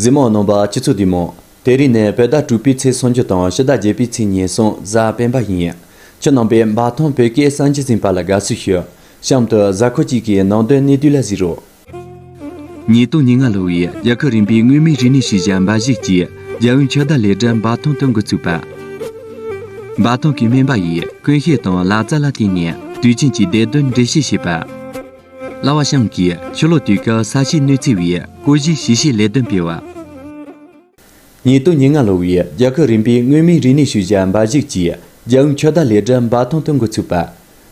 གཟིགས་མོ་ནོམ་པ་སྤྱི་ཚོགས་འདུས་མོ། དེ་རིང་ནི་བོད་ཟླ་དྲུག་པའི་ཚེས་སུམ་ཅུ་དང་ཕྱི་ཟླ་བརྒྱད་པའི་ཚེས་ཉེར་གསུམ་གཟའ་སྤེན་པ་ཡིན། ཁྱེད་རྣམ་པས་འབའ་ཐང་བོད་སྐད་གསར་འབྱེད་ཟིན་པ་ལ་དགའ་བསུ་ཞུ། གཤམ་དུ་གཟའ་འཁོར་གཅིག་གི་ནང་དོན་གནད་བསྡུས་ལ་གཟིགས་རོགས། ཉིས་སྟོང་ཉིས་ལྔ་ལོ་བའི་རྒྱལ་ཁབ་རིམ་པའི་མངོན་མིན་རིག་གནས་ཤེས་བྱ་འབའ་གཞིགས་ཀྱི་རྒྱལ་ཡོངས་ཕྱི་ཟླ་ལས་གྲྭ་འབའ་ཐང་དུ་འགོ་ཚུགས་པ། འབའ་ཐང་གི་སྨན་པ་ཡིས་ཀུན་ཤེས་དང་ལག་རྩལ་ལ་བརྟེན་ནས་དུས་ཆེན་གྱི་འདས་དོན་འགྲེལ་བཤད་བྱེད་པ། གླ་བ་ཤང་གིས་ཆུ་ལོག་དུས་སྐབས་ས་ཆའི་གནོད་འཚེ་བའི་སྐོར་གཞིའི་ཞིབ་བཤེར་ལས་དོན་སྤེལ་བ། ཉེ་དུ་ཉིན་ལྔ་ལོ་བའི་རྒྱལ་ཁབ་རིམ་པའི་མངོན་མིན་རིག་གནས་ཤུལ་བཞག་འབའ་གཞིགས་ཀྱི་རྒྱལ་ཡོངས་ཁྱད་ལྡན་ལས་གྲྭ་འབའ་ཐང་དུ་འགོ་ཚུགས་པ།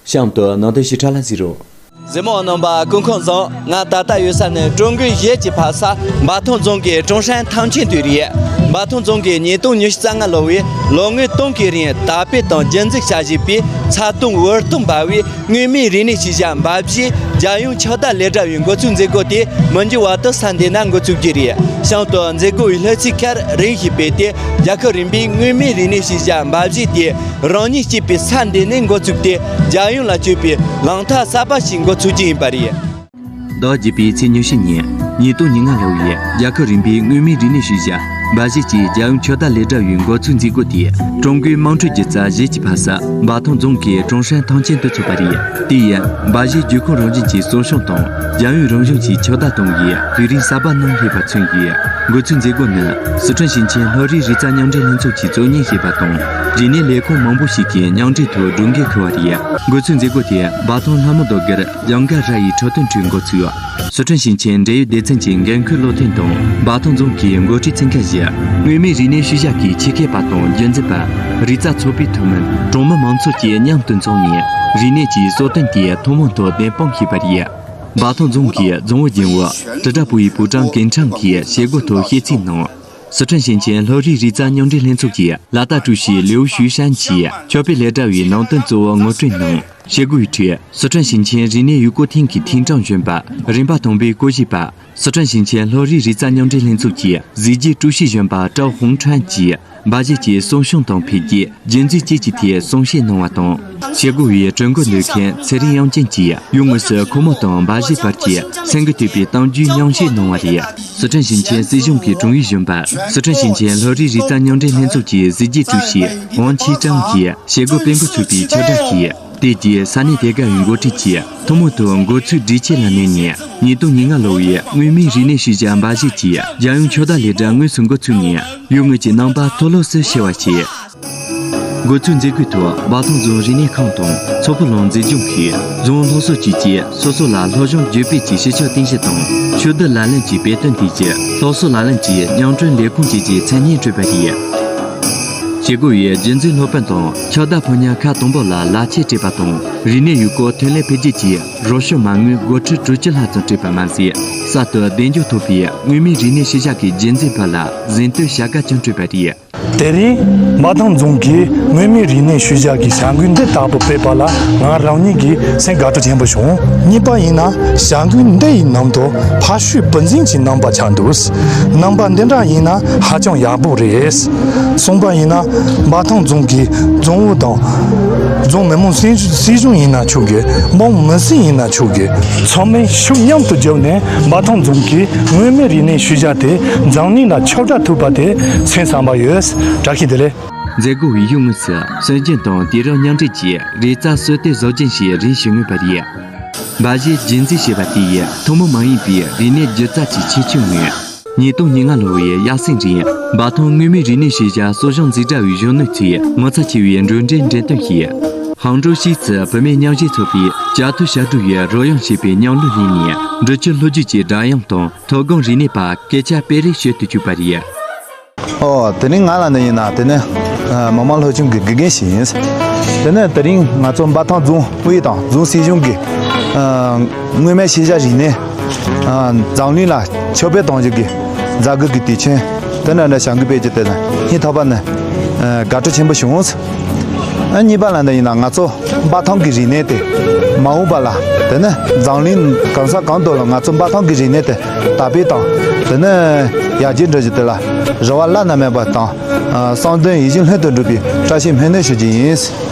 གཤམ་དུ་ནང་དོན་ཞིབ་ཕྲ་ལ་གཟིགས་རོགས། ཟི་མོ་རྣམ་པ་ཀུན་ཁང་རྫོང་ང་ད་ལྟ་ཡོད་ས་ནི་ཀྲུང་གོའི་གཞས་ཀྱི་ཕ་ས་འབའ་ཐང་རྫོང་གི་ཀྲུང་ཧྲན་ཐང་ཆེན་དུས་རེད། འབའ་ཐང་རྫོང་གིས་ཉིས་སྟོང་ཉི་ཤུ་རྩ་ལྔ་ལོ་བའི་ལོ་ལྔའི་སྟོན་ཁའི་རིང་དར་སྤེལ་དང་རྒྱུན་འཛུགས་བྱ་བཞིན་པའི་ཚ་གདུང་འུར་གཏོང་འབའ་བའི་དངོས་མིན་རིག་གནས་སྤྱི་བྱ་འབའ་བཞི་རྒྱལ་ཡོངས་ཕྱག་བསྟར་ལས་གྲྭ་བའི་འགོ་ཚུགས་མཛད་སྒོ་དེ་མི་འགྱུར་བ་དུ་ས་འདི་ན་འགོ་བཙུགས་ཀྱི་རེད་གཤམ་དུ་མཛད་སྒོ་བའི་ལྷུ་ཚིགས་ཁར་རིང་ཞིག་སྤེལ་ཏེ་རྒྱལ་ཁབ་རིམ་པའི་དངོས་མིན་རིག་གནས་སྤྱི་བྱ་འབའ་བཞི་དེ་རང་ཉིད་སྐྱེས་པའི་ས་འདི་ནས་འགོ་བཙུགས་ཏེ་རྒྱལ་ཡོངས་ལ་སྤྱོད་པའི་ལམ་ཐག་གསར་པ་ཞིག་འགོ་ཚུགས་ཀྱི་ཡིན་པ་རེད། བདག་བགྱིད་པའི་ཚེ་ཉི་ཤུ་ཉིན། ཉིད་སྟོང་ཉིད་ལྔ་ལྷ་བའི་རྒྱལ་ཁབ་རིམ་པའི་དངོས་མིང་རིག་གནས་ཤུལ་བཞག་འབའ་གཞས་ཀྱི་རྒྱལ་ཡུམ་ཆོས་བདག་ལས་གྲྭ་བའི་འགོ་ཚུགས་མཛད་སྒོ་དེ་ཀྲུང་གོའི་དམངས་ཁྲོད་ཀྱི་རྩ་གཞས་ཀྱི་ཕ་ས་འབའ་ཐང་རྫོང་གི་ཀྲུང་ཧྲན་ཐང་ཆེན་དུ་ཚོགས་པ་རེད། དེ་ཡིན་འབའ་གཞས་བརྒྱུད་ཁོངས་རང་བཞིན་གྱི་གསོ་སྦྱོང་དང་རྒྱལ་ཡོངས་རང་བཞིན་གྱི་ཆོས་བདག་སྟོང་གི་དུས་རིང་གསར་པ་གནང་སླེབས་པ་མཚོན་ཡོད། འགོ་ཚུགས་མཛད་སྒོ་ནི་ཟི་ཁྲོན་ཞིང་ཆེན་ལྷོ་རིའི་རི་རྩ་མཉམ་འབྲེལ་ལྷན་ཚོགས་ཀྱི་གཙོ་གཉེར་བྱས་པ་དང་རིག་གནས་ལས་ཁུངས་མང་པོ་ཞིག་གི་མཉམ་འབྲེལ་ཐོག་སྒྲུབ་འགན་ཁུར་བ་རེད། འགོ་ཚུགས་མཛད་སྒོ་དེ་འབའ་ཐང་ལྷ་མོ་རྡོ་དགེར། ལྗང་སྒ་ར་ཡི་ཁྲོ་དོན་ཁྲུའི་འགོ་ཚུགས། སི་ཁྲོན་ཞིང་ཆེན་འབྲེལ་ཡོད་སྡེ་ཚན་གྱི་འགན་འཁུར་བློ་མཐུན་དང་འབའ་ཐང་རྫོང་གི་མགོ་ཁྲིད་ཚན་ཁག་བཞི། མངོན་མིན་རིག་གནས་ཤུལ་བཞག་གི་ཆེད་མཁས་པ་དང་རྒྱུན་འཛིན་པ། རིག་རྩལ་ཚོགས་པའི་ཐུན་མིན་གྲོང་མི་མང་ཚོགས་བཅས་མཉམ་དུ་འཚོགས་ནས་རིག་གནས་ཀྱི་གསོལ་སྟོན་དེ་ཐུན་མོང་ཐོག་བདེན་དཔང་ཞུས་པ་རེད། འབའ་ཐང་རྫོང་གི་རྫོང་ཨུ་རྒྱུན་ཨུ་དྲིལ་བསྒྲགས་པུའུ་ཡི་པུའུ་ཀྲང་ཀིན་ཁྲང་གིས་བྱེད་སྒོའི་ཐོག་ཤིས་ཚིག་གནང། སི་ཁྲོན་ཞིང་ཆེན་ལྷོ་རིའི་རིག་རྩལ་སྙོམས་སྒྲིག་ལྷན་ཚོགས་ཀྱི་ལ་དྭགས་ཀྲུའུ་ཞི་ལིའུ་ཞུས་ཧྲན་གྱིས་ཆོས་དཔེ་ལས་གྲྭ་བའི་ནང་དོན་གཙོ་བོ་ངོ་སྤྲོད་གནང། བཅས་བཀོད་སྒྲིག། སི་ཁྲོན་ཞིང་ཆེན་རིག་གནས་ཡུལ་སྐོར་ཐིང་གི་ཐིང་ཀྲང་གཞོན་པ་རིམ་པ་དང་པོའི་སྐོར་ཞིབ་པ། སི་ཁྲོན་ཞིང་ཆེན་ལྷོ་རིའི་རི་རྩ་མཉམ་འབྲེལ་ལྷན་ཚོགས་ཀྱི་གཟི་བརྗིད་ཀྲུའུ་ཞི་གཞོན་པ་ཀྲའོ་ཧུང་ཁྲན་གྱིས་སྦ་གཞས་ཀྱི་གསོ་སྦྱོང་དང་འཕེལ་རྒྱས་རྒྱུན་འཛིན་བཅས་ཀྱི་ཐད་གསུང་བཤད་གནང་བ་དང། བྱེད་སྒོ་བའི་གྲོས་འགོ་འདོན་མཁན་ཚེ་རིང་དབྱངས་ཅན་གྱིས་ཡུལ་དངོས་སུ་ཁོ་མོ་དང་སྦ་གཞས་བར་གྱི་ཚན་རྒོད་གཏོད་པའི་གཏམ་རྒྱུད་ཉམས་བཞེས་གནང་བ་རེད། ཟི་ཁྲོན་ཞིང་ཆེན་སྲིད་གཞུང་གི་དྲུང་ཡིག་གཞོན་པ་ཟི་ཁྲོན་ཞིང་ཆེན་ལྷོ་རིའི་རིག་རྩལ་སྙོག་འདྲེན་ལྷན་ཚོགས་ཀྱི་གཟི་བརྗིད་ཀྲུའུ་ཞི་ཝང་ཆི་ཀྲང་གིས་བྱེད་སྒོ་སྤེལ་འགོ་ཚུགས་པའི་ཕྱིར་བསྒྲགས་ཀྱིས་དེ་རྗེས་ས་གནས་དེ་གའི་མགོ་ཁྲིད་ཀྱིས་ཐུན་མོང་དུ་མགོ་ཚུགས་སྒྲིག་ཆས་ལ་བསྣན་ནས་ཉིས་སྟོང་ཉིས་ལྔ་ལོ་བའི་མངོན་མིན་རིག་གནས་ཤུལ་བཞག་འབའ་གཞས་ཀྱི་རྒྱལ་ཡོངས་ཕྱོགས་བསྡུ་ལས་གྲྭ་དངོས་སུ་འགོ་ཚུགས་ནས་ཡུལ་དངོས་ཀྱི་རྣམ་པ་མཐོ་སློབ་སུ་ཕྱེ་བ་བྱས། དགོས་ཚུལ་མཛད་སྒོའི་ཐོག་སྦག་སྟོང་རྫོང་རིག་གནས་ཁང་དང་མཚོ་ཕུ་ལྷོ་མཛེས་ལྗོངས་ཤིག་རོང་ལྷོ་སོགས་བཅས་ཀྱིས་སོ་སོ་ལ་ལྷོ་གཞུང་བརྒྱུད་སྤེལ་གྱི་ཞི་ཕྱོགས་རྟེན་གཞི་དང་ཆོས་བསྡུ་ལག་ལེན་གྱི་དཔེ་སྟོན་ཐད་ཀྱི་སློབ་གསོ་ལག་ལེན་གྱི་མྱང་གྲོལ་ལས་ཁུངས་བཅས་ཀྱི་མཚན་སྙན་སྤྲོད་པ་རེད། བྱེད་སྒོ་བའི་རྗེས་འཛིན་སློབ་དཔོན་དང་ཕྱག་བདག་ཕོ་ཉར་ཁག་དང་པོ་ལ་ལག་འཁྱེར་སྤྲད་པ་དང་རིག་གནས་ཡུལ་སྐོར་ཐོན་ལས་འཕེལ་རྒྱས་ཀྱི་རོགས་ཞུ་མ་དངུལ་སྒོར་ཁྲི་དྲུག་བཅུ་ལྷག་ཙམ་སྤྲད་པ་མ་ཟད་གསར་དུ་གདེང་འཇོག་ཐོབ་པའི་མངོན་མིན་རིག་གནས་ཤུལ་བཞག་གི་རྗེས་འཛིན་པ་ལ་གཟེངས་བསྟོད་བྱ་དགའ་ཀྱང་སྤྲོད་པ་རེད། དེ་རིང་འབའ་ཐང་རྫོང་གིས་མངོན་མིན་རིག་གནས་ཤུལ་བཞག་གི་བྱ་འགུལ་འདི་དག་པོ་སྤེལ་པ་ལ་ང་རང་ཉིད་ཀྱིས་སེམས་དགའ་སྤྲོ་ཆེན་པོ་བྱུང། གཉིས་པ་ཡིན་ན་བྱ་འགུལ་འདི་ཡི་ནང་དུ་ཕ་ཤུལ་བུ་འཛིན་གྱི་རྣམ་པ་ཆགས་འདུག་རྣམ་པ་འདི་འདྲ་ཡིན་ན་ཧ་ཅང་ཡག་པོ་རེད། གསུམ་པ་ཡིན་ན་འབའ་ཐང་རྫོང་གི་རྫོང་ཨུ་དང། རྫོང་མི་དམངས་སྲིད་གཞུང་ཡིན་ན་ཆོག་གི་དམངས་མི་སྲིད་ཡིན་ན་ཆོག་གི་ཚང་མས་ཤུགས་མཉམ་དུ་བརྒྱབ་ནས་འབའ་ཐང་རྫོང་གི་མངོན་མིན་རིག་གནས་ཤུལ་བཞག་དེ་འཛམ་གླིང་ལ་ཁྱབ་བསྒྲགས་ཐུབ་པ་དེ་མཚན་བཟང་བ་ཡོས་བྲག་གི་དེ་ལས། མཛད་སྒོ་བའི་ཡུལ་དངོས་སུ་སྲོལ་རྒྱུན་དང་དུས་རབས་མཉམ་འདྲེས་ཀྱི་རིག་རྩལ་སྲོལ་གཏོད་བཟོ་སྦྱིན་བྱེད་རིང་བྱེད་ནུས་པ་རེད། འབའ་གཞས་རྒྱུན་འཛིན་བྱེད་པ་དེ་ཡིས་ཐུན་མོང་མ་ཡིན་པའི་རིག་གནས་སྒྱུ་རྩལ་གྱི་ཁྱད་ཆོས་མངོན། ཉིས་སྟོང་ཉེར་ལྔ་ལོ་བའི་དབྱར་གསེང་རིང་འབའ་ཐང་དངོས་མིན་རིག་གནས་ཤེས་བྱ་གསོ་སྦྱོང་འཛིན་གྲྭ་བའི་གཞོན་ནུ་ཚོས་ངོ་ཚ་ཆེ་བའི་འགྲོས་འདྲའི་འགྲེམས་སྟོན་བྱས། ཧང་ཀྲོའུ་ཞིས་ཙི་བུད་མེད་མཉམ་གཞས་ཚོགས་པས་རྒྱ་མཚོའི་ཞབྲུལ་བའི་རོལ་དབྱངས་ཞེས་པའི་ཉམས་གླུ་གླེང་ནས་འབྲི་ཆུའི་ལྷོ་རྒྱུད་ཀྱི་སྒྲ་དབྱངས་དང། དོ་དགོང་རིག་གནས་པ་སྐད་ཆ་སྤེལ་རེས་བྱེད་དུ་བཅུག་པ་རེད། ཨོ། དེ་ནི་ང་ལ་ནི་ཡིན་ན་དེ་ནི་མི་མང་ལྷོད་ཆུང་གི་དགེ་རྒན་ཞིག་ཡིན། དེ་ནི་དེ་རིང་ང་ཚོ་འབའ་ཐང་རྫོང་ཨུད་དང་རྫོང་སྲིད་གཞུང་གིས་སྔོན་མའི་ཤེས་བྱ་རིག་གནས་འཛམ་གླིང་ལ་ཕྱོགས་སྤེལ་གཏོང་རྒྱུ་གི་མཛད་སྒོ་གི་དུས་ཆེན་དེ་ནས་ལ་བྱང་གི་དཔེ་ཆ་དེ་ལ་སྙིང་ཐག་པ་ནས་དགའ་སྤྲོ་ཆེན་པོ་བྱུང། གཉིས་པ་ལ་འདི་ཡིན་ན་ང་ཚོ་འབའ་ཐང་གི་རིག་གནས་དེ་མ་འོངས་པ་ལ་དེ་ནི་འཛམ་གླིང་གང་ས་གང་དུ་ལ་ང་ཚོ་འབའ་ཐང་གི་རིག་གནས་དེ་དར་སྤེལ་དང་དེ་ནི་ཡར་རྒྱས་འགྲོ་བཞིན་དེ་ལ་རེ་བ་བླ་ན་མེད་པ་དང་གསང་དོན་ཡིད་བཞིན་ལྷུན་དུ་འགྲུབ་པའི་བཀྲ་ཤིས་སྨོན་འདུན་ཞུ་རྒྱུ་ཡིན།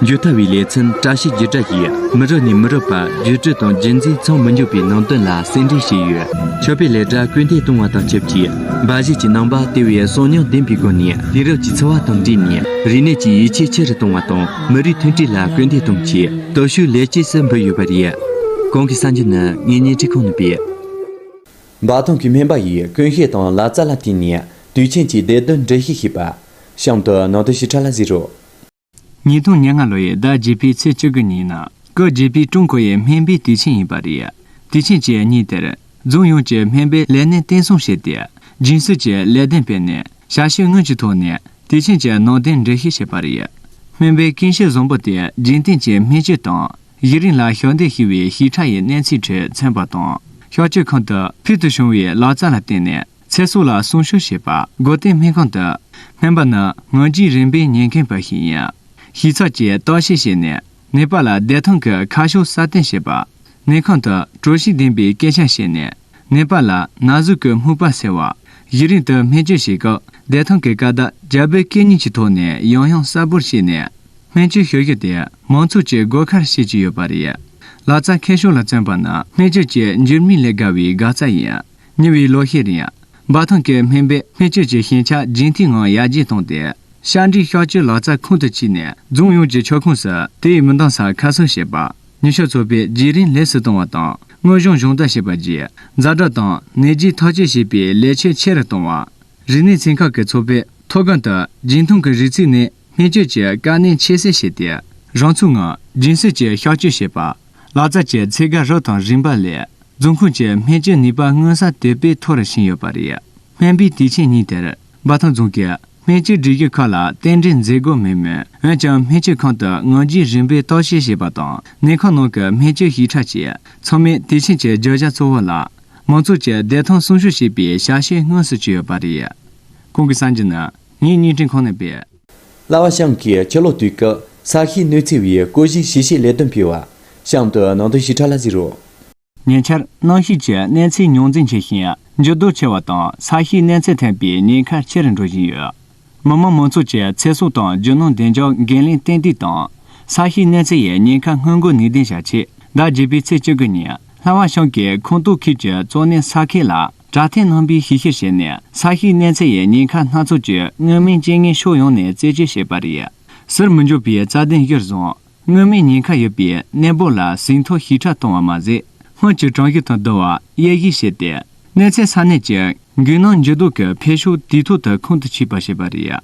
བརྗོད་ལྟ་བའི་ལེ་ཚན་བཀྲ་ཤིས་བརྗོད་བྱ་ཞིག་མི་རབས་ནས་མི་རབས་བར་བརྗོད་བྱ་དང་རྒྱུན་འཛིན་མཚམས་མི་འཇོག་པའི་ནང་དོན་ལ་གསལ་འགྲེལ་བྱས་ཡོད། མཆོད་པའི་ལས་གྲྭ་སྐུལ་འདེད་གཏོང་བ་དང་ཆབས་ཅིག་འབའ་གཞས་ཀྱི་ནང་པ་དེ་བས་གསོག་ཉར་ལྡན་པའི་སྒོ་ནས་དུས་རབས་ཀྱི་འཚོ་བ་དང་འདྲིས་ནས་རིག་གནས་ཀྱི་ཡིད་ཆེས་ཆེ་རུ་གཏོང་བ་དང་མི་རིགས་མཐུན་སྒྲིལ་ལ་སྐུལ་འདེད་གཏོང་ཆེད་སྟོབས་ཤུགས་ལེགས་སྐྱེས་སུ་འབུལ་ཡོད་པ་རེད། གོང་གི་གསར་འགྱུར་ནི་ངས་བརྙན་འཕྲིན་ཁང་ནས་སྤེལ། འབའ་ཐང་གི་སྨན་པ་ཡིས་ཀུན་ཤེས་དང་ལག་རྩལ་ལ་བརྟེན་ནས་དུས་ཆེན་གྱི་འདས་དོན་འགྲེལ་བཤད་བྱས་པ། གཤམ་དུ་ནང་དོན་ཞིབ་ཕྲ་ལ་གཟིགས་རོགས། ཉིས་སྟོང་ཉེར་ལྔ་ལོ་ཡི་ཟླ་བརྒྱད་པའི་ཚེས་བཅུ་དགུ་ཉིན་ནང་སྐབས་བརྒྱད་པའི་ཀྲུང་གོ་ཡི་སྨན་པའི་དུས་ཆེན་ཡིན་པ་རེད། དུས་ཆེན་གྱི་ཉིན་དེར། རྫོང་ཡོངས་ཀྱི་སྨན་པའི་ལས་སྣེ་བརྟན་སྲུང་བྱས་ཏེ། རྒྱུན་སྲོལ་གྱི་ལས་གདན་སྤེལ་ནས་ཞབས་ཞུའི་དངུལ་གྱི་ཐོག་ནས་དུས་ཆེན་གྱི་ནང་རྟེན་འབྲེལ་ཤིག་བྱས་པ་རེད། སྨན་པའི་སྐད་གཤེར་བཟང་པོ་དེ་རྒྱུན་གཏན་གྱི་སྨན་བཅོས་དང་གཞི་རིམ་ལ་ཞབས་འདེགས་ཞུ་བའི་ཞིབ་ཕྲ་ཡི་གནས་ཚུལ་ཁྲོད་མཚོན་པ་དང། བཤགས་བཅོས་ཁང་དུ་ཕུལ་དུ་བྱུང་བའི་ལག་རྩལ་ལ་བརྟེན་ནས། ཚེ་སྲོག་ལ་སྲུང་ཤུགས་བྱེད་པ། སྒོ་བསྟེན་སྨན་ཁང་དུ་སྨན་པ་ནི་ངང་རྒྱུད་རིམ་པས་ཉེན་ཁེངས་པ་ཞིག་ཡིན། ཞིབ་ཚགས་ཀྱིས་བརྟག་དཔྱད་བྱས་ནས་ནད་པ་ལ་བདེ་ཐང་གི་ཁ་ཕྱོགས་སྲ་བརྟན་བྱེད་པ། ནད་ཁང་དུ་གྲོས་ཤིག་འདིང་པའི་སྐད་ཆ་བཤད་ནས་ནད་པ་ལ་ན་ཟུག་གི་སྨུག་པ་སེལ་བ། གཞི་རིམ་དུ་སྨན་བཅོས་བྱེད་སྐབས་བདེ་ཐང་གི་ཀ་དག་རྒྱ་བོད་སྐད་གཉིས་ཀྱི་ཐོག་ནས་ཡང་ཡང་གསལ་པོར་བཤད་ནས་སྨན་བཅོས་ཞུ་རྒྱུ་དེ་མང་ཚོགས་ཀྱི་དགོས་ཁར་བྱེད་ཀྱི་ཡོད་པ་རེད། ལག་རྩལ་མཁས་ཤོས་ལ་བརྩོན་པ་ནི་སྨན་བཅོས་ཀྱི་འགྱུར་མིག་ལས་དགའ་བའི་དགའ་རྩལ་ཡིན། ཉེ་བའི་ལོ་ཤས་རིང། འབའ་ཐང་གི་སྨན་པས་སྨན་བཅོས་ཀྱི་ཞན་ཆ་རྒྱུན་མཐའི་ངང་ཡར་རྒྱས་བཏང་སྟེ། ཤ་འབྲས་ཤ་བཅོས་ལག་རྩལ་ཁོང་དུ་ཆུད་ནས་རྫོང་ཡོངས་ཀྱི་ཆུ་ཁོངས་སུ་དེའི་མི་འདང་ས་ཁ་གསོ་བྱེད་པ། ཉི་ཤུ་ཚོ་པའི་བརྗེ་རིམ་ལེགས་སུ་བཏང་བ་དང་དངོས་གཞུང་གཞུང་བརྟག་བྱེད་པ་བརྒྱུད། རྫ་དྲག་དང་ནད་རྒྱུག་ཐག་གཅོད་བྱེད་པའི་ལས་ཕྱོད་ཆེ་རུ་བཏང་བ། རིག་གནས་ཚན་ཁག་གི་ཚོགས་པས་མཐོ་སྒང་དུ་རྒྱུན་མཐོང་གི་རིག་ཚུལ་ནས་སྨན་བཅོས་ཀྱི་དཀའ་གནད་ཁྱད་བསད་བྱས་ཏེ། རང་ཚུགས་ངང་རྒྱུན་སྲོལ་གྱི་ཤ་བཅོས་བྱེད་པ། ལག་རྩལ་གྱི་ཚད་བརྒལ་རགས་དང་རིམ་པ་ལས། རྫོང་ཁོངས་ཀྱི་སྨན་བཅོས་ནུས་པ་མངོན་གསལ་དོད་པོས་མཐོ་རུ་ཕྱིན་ཡོད་པ་རེད། སྨན་པའི་དུས་ཆེན་ཉིན་དེར་འབའ་ཐང་རྫོང་གི་སྨན་བཅོས་སྒྲིག་གཞི་ཁག་ལ་རྟེན་འབྲེལ་མཛད་སྒོ་མེད་མོད་འོན་ཀྱང་སྨན་བཅོས་ཁང་དུ་ངང་རྒྱུད་རིང་པོའི་རྟོག་བཤེར་བྱས་པ་དང་ནད་ཁང་ནང་གི་སྨན་བཅོས་ཞིབ་ཕྲ་བཅས་ཚང་མས་དུས་ཆེན་གྱི་བརྗོད་བྱ་གཙོ་བོ་ལ་མང་ཚོགས་ཀྱི་བདེ་ཐང་སྲུང་ཤུགས་ཞེས་པའི་ཞལ་བཞེས་དངོས་སུ་བྱས་ཡོད་པ་རེད། ཁོང་གིས་གསར་འགྱུར་ནི་ངའི་བརྙན་འཕྲིན་ཁང་ནས་སྤེལ། གླ་བ་ཤང་གིས་ཕྱི་ལོགས་དུས་སྐབས་ས་གཤིས་གནོད་འཚེ་བའི་སྐོར་གཞིའི་གཞི་ཤེས་ལས་དོན་ཕེབས། གཤམ་དུ་ནང་དོན་ཞིབ་ཕྲ་ལ་གཟིགས་རོགས། ཉེ་ཆར་གནམ་གཤིས་ཀྱི་གནས་ཚད་རྙོག་འཛིང་ཆེ་ཞིང་འགྱུར་ལྡོག་ཆེ་བ་དང་ས་གཤིས་གནས་ཚད་འཐེན་པའི་ཉེན་ཁ་ཆེ་རུ་འགྲོ་བཞིན་ཡོད། མི་དམངས་མང་ཚོགས་ཀྱི་ཚེ་སྲོག་དང་རྒྱུ་ནོར་བདེ་འཇགས་འགན་ལེན་ཏན་ཏིག་དང། ས་གཤིས་གནས་ཚད་ཡི་ཉེན་ཁ་སྔོན་འགོག་ནུས་ལྡན་བྱ་ཆེད་ཟླ་བརྒྱད་པའི་ཚེས་བཅུ་དགུ་ཉིན་གླ་བ་ཤང་གིས་ཁོངས་གཏོགས་ཁུལ་གྱི་གཙོ་གནད་ས་ཁེ་ལ། སྒྲ་ཐེངས་རྣམ་པའི་ཤིག་ཤིག་བྱས་ནས་ས་གཤིས་གནས་ཚད་ཡའི་ཉེན་ཁ་སྣ་ཚོགས་ཀྱི་མངོན་མིན་རྐྱེན་ངན་ཕྱོགས་ཡོངས་ནས་རྩད་གཅོད་བྱས་པ་རེད། ཟུར་མི་འཇོག་པའི་རྩ་དོན་གཞིར་བཟུང། མངོན་མིན་ཉེན་ཁ་ཡོད་པའི་གནས་སྤོ་ལ་ཟིན་ཐོ་ཞིབ་ཕྲ་གཏོང་བ་མ་ཟད། སྔོན་གྱི་གྲངས་གཞི་དང་བསྡུར་བ་དབྱེ་གཞི་བྱས་ཏེ། གནས་ཚད་ས་གནས་ཀྱི་རྒྱུན་སྣང་འགྱུར་ལྡོག་གི་འཕེལ་ཕྱོགས་དུས་ཐོག་ཏུ་ཁོང་དུ་ཆུད་པར་བྱས་པ་རེད།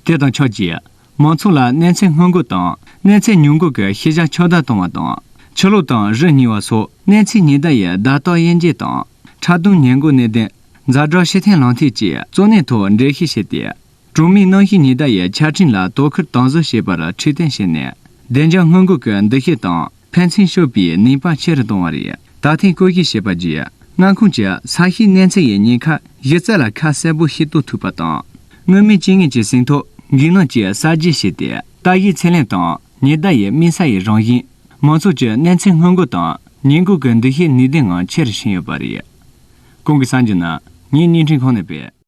དེ་དང་ཆབས་ཅིག། མང་ཚོགས་ལ་གནས་ཚད་སྔོན་འགོད་དང་གནས་ཚད་མྱུར་འགོད་ཀྱི་ཤེས་བྱ་ཕྱོགས་བསྡུ་གཏོང་བ་དང། ཕྱི་ལོགས་དང་རི་ཉིལ་བ་སོགས་གནས་ཚད་ཉེན་བརྡ་ཡི་བརྡ་རྟགས་དབྱེ་འབྱེད་དང། ཁྲག་འཐུང་ཉེན་འགོག་གནས་བརྟན། རྫ་བྲག་ཤེས་ལྡན་ལམ་ཐིག་བཅས་གཙོ་གནད་ཐོག་འགྲེལ་བཤད་བྱས་ཏེ། གྲོང་མིའི་གནམ་གཤིས་ཉེན་བརྡ་ཡི་ཆ་འཕྲིན་ལ་དོ་ཁུར་དང་བཟོ་བྱེད་པར་ཁྲིད་སྟོན་བྱས་ནས། བདེ་འཇགས་སྔོན་འགོད་ཀྱི་འདུ་ཤེས་དང། ཕན་ཚུན་ཤོད་པའི་ནུས་པ་ཆེ་རུ་གཏོང་བ་རེད། ད་ཐེངས་བཀོད་ཤིས་བྱས་པ་བརྒྱུད་མངའ་ཁོངས་ཀྱི་ས་གཤིས་གནས་ཚད་ཡིག་རྙིང་ཁག་གཞི་རྩ་ལ་ཁ་གསལ་པོ་ཞིག་གཏོད་ཐུབ་པ་དང། མངོན་མིན་ཅི་ངེས་ཀྱི་ཟིན་ཐོ་འགྱིག་ནག་ཅིག་གསར་བརྗེ་བྱས་ཏེ་ལྟ་བཞིའི་ཚད་ལེན་དང་ཉི་ཟླ་ཡི་སྨིན་ས་ཡི་རང་བཞིན། མང་ཚོགས་ཀྱི་གནས་ཚད་སྔོན་འགོག་དང་ཉེས་འགོག་གི་འདུ་ཤེས་ནུས་ལྡན་ངང་ཆེ་རུ་ཕྱིན་ཡོད་པ་རེད། གོང་གི་གསར་འགྱུར་ནང་ངས་བརྙན་འཕྲིན་ཁང་ནས་སྤེལ།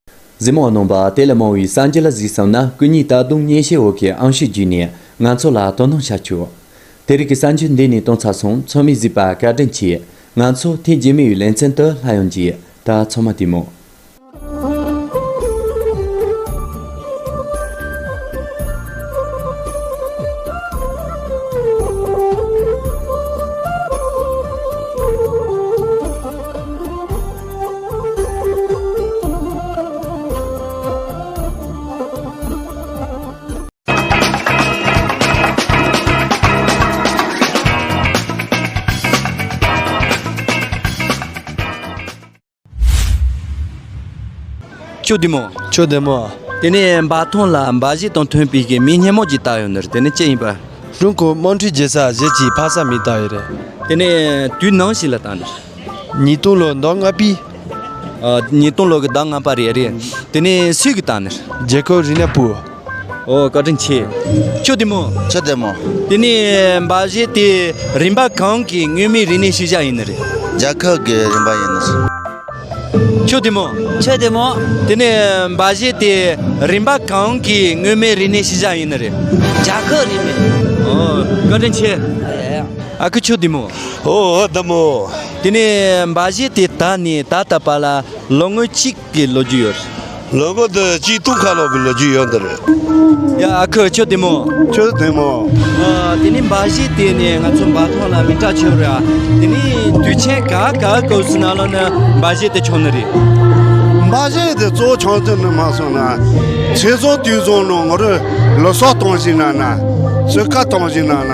གཟིགས་མོ་གནང་བ་དེ་ལས་མང་བའི་སངས་རྒྱས་ལ་གཟིགས་བསམ་ན་སྐུ་ཉིད་ད་དུང་གཉེན་བཤེས་འོ་ཁའི་ཨང་ཤུལ་བརྒྱུད་ནས་ང་ཚོ་ལ་དོ་སྣང་བྱ་ཆོག། དེ་རིགས་ཀྱི་གསར་འགྱུར་འདི་ནས་གཏོང་ཚར་སོང་ཚོད་མི་གཟིགས་པ་བཀའ་དྲིན་ཆེ། ང་ཚོ་ཐེངས་རྗེས་མའི་ལེ་ཚན་དུ་ལྷ་ཡང་རྗེས་ད་ཚང་མ་བལྟས་མོ། ཅོ་དེ་མོ་ཅོ་དེ་མོ་དེ་ནས་འབའ་ཐོན་ལ་འབའ་གཞི་དང་ཐོན་པའི་གི་མི་སྙན་མོ་ཅིག་བཏགས་ཡོད་ནི་དེ་ནི་ཅི་ཡིན་པ་ཀྲུང་གོའི་དམངས་ཁྲོད་རྒྱལ་ས་གཞས་ཀྱི་ཕ་ས་མི་བཏགས་ཡོད་རེད་དེ་ནས་དུས་ནང་ཞིག་ལ་བཏགས་ནི་ཉིས་སྟོང་ལོའི་ཟླ་ལྔ་པའི། ཉིས་སྟོང་ལོའི་ཟླ་ལྔ་པ་རེད་རེད། དེ་ནས་སུས་གི་དང་ནས། རྒྱལ་ཁབ་རི་ནས་པུའོ། ཨོ་བཀའ་དྲིན་ཆེ། ཁྱོད་བདེ་མོ། ཁྱོད་བདེ་མོ། དེ་ནས་འབའ་གཞས་དེ་རིམ་པ་གང་གི་དངོས་མིན་རིག་གནས་ཤུལ་བཞག་ཡིན་ནི་རེད། རྒྱལ་ཁབ་གི་རིམ་པ་ཡིན་ནི། ཁྱོད་བདེ་མོ། ཁྱོད་བདེ་མོ། དེ་ནས་འབའ་གཞས་དེ་རིམ་པ་གང་གི་དངོས་མིན་རིག་གནས་ཤུལ་བཞག་ཡིན་ནི་རེད། རྒྱལ་ཁབ་རིམ་པའི། ཨོ་བཀའ་དྲིན་ཆེ། ཨ་ཁུ་ཁྱོད་བདེ་མོ། ཨོ་ཨོ་བདུན་མོ། དེ་ནས་འབའ་གཞས་དེ་དག་ནི་ད་ལྟ་བར་ལ་ལོ་ངོ་གཅིག་གི་ལོ་རྒྱུས་ཡོད། ལོ་ངོ་དུ་གཅིག་སྟོང་ཁ་ལོག་གི་ལོ་རྒྱུས་ཡོད་འདི་རེད། ཡ་ཨ་ཁུ་ཁྱོད་བདུན་མོ། ཁྱོད་བདུན་མོ། དེ་ནི་འབའ་གཞས་དེ་ནི་ང་ཚོ་འབའ་ཐང་ལ་མི་དྲག་ཆོས་རེད། དེ་ནི་དུས་ཆེན་ག་ག་གོ་སུ་ན་ལོ་ནི་འབའ་གཞས་དེ་ཆོག་ནི་རེད། འབའ་གཞས་དེ་གཙོ་བོ་ཆོག་དོན་ནི་མ་སོང་ན། ཆེ་སོང་དུས་སོང་ནོ་ང་རོ་ལོ་སོ་སྟོང་ཞིག་ན་ན། སོས་ཀ་སྟོང་ཞིག་ན་ན།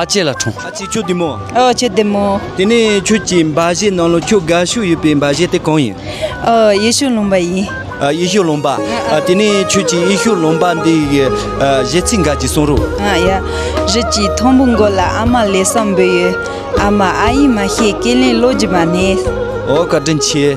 ཨ་ཅེ་ལ་འཁྲུངས། ཨ་ཅེ་ཁྱོད་བདེ་མོ། ཨ་ཅེ་བདེ་མོ། དེ་ནས་ཁྱོད་ཀྱི་འབའ་གཞས་ནང་ལོ་ཁྱོད་དགའ་ཤོས་ཡོད་པའི་འབའ་གཞས་དེ་གང་ཡིན། ཡེ་ཤུ་ལུང་པ་ཡིན། ཡེ་ཤུ་ལུང་པ། དེ་ནས་ཁྱོད་ཀྱིས་ཡེ་ཤུ་ལུང་པ་འདི་གི་གཞས་ཚིག་འགའ་ཅིག་གསུང་རོགས། ཡ། རིགས་ཀྱི་མཐོན་པོ་མགོ་ལ་ཨ་མ་ལེ་སང་འབོད་ཡོད། ཨ་མ་ཨ་ཡིན་མ་ཤེས་ཀེ་ལན་བློ་སྦྱིན་པ་ནས། ཨོ་བཀའ་དྲིན་ཆེ།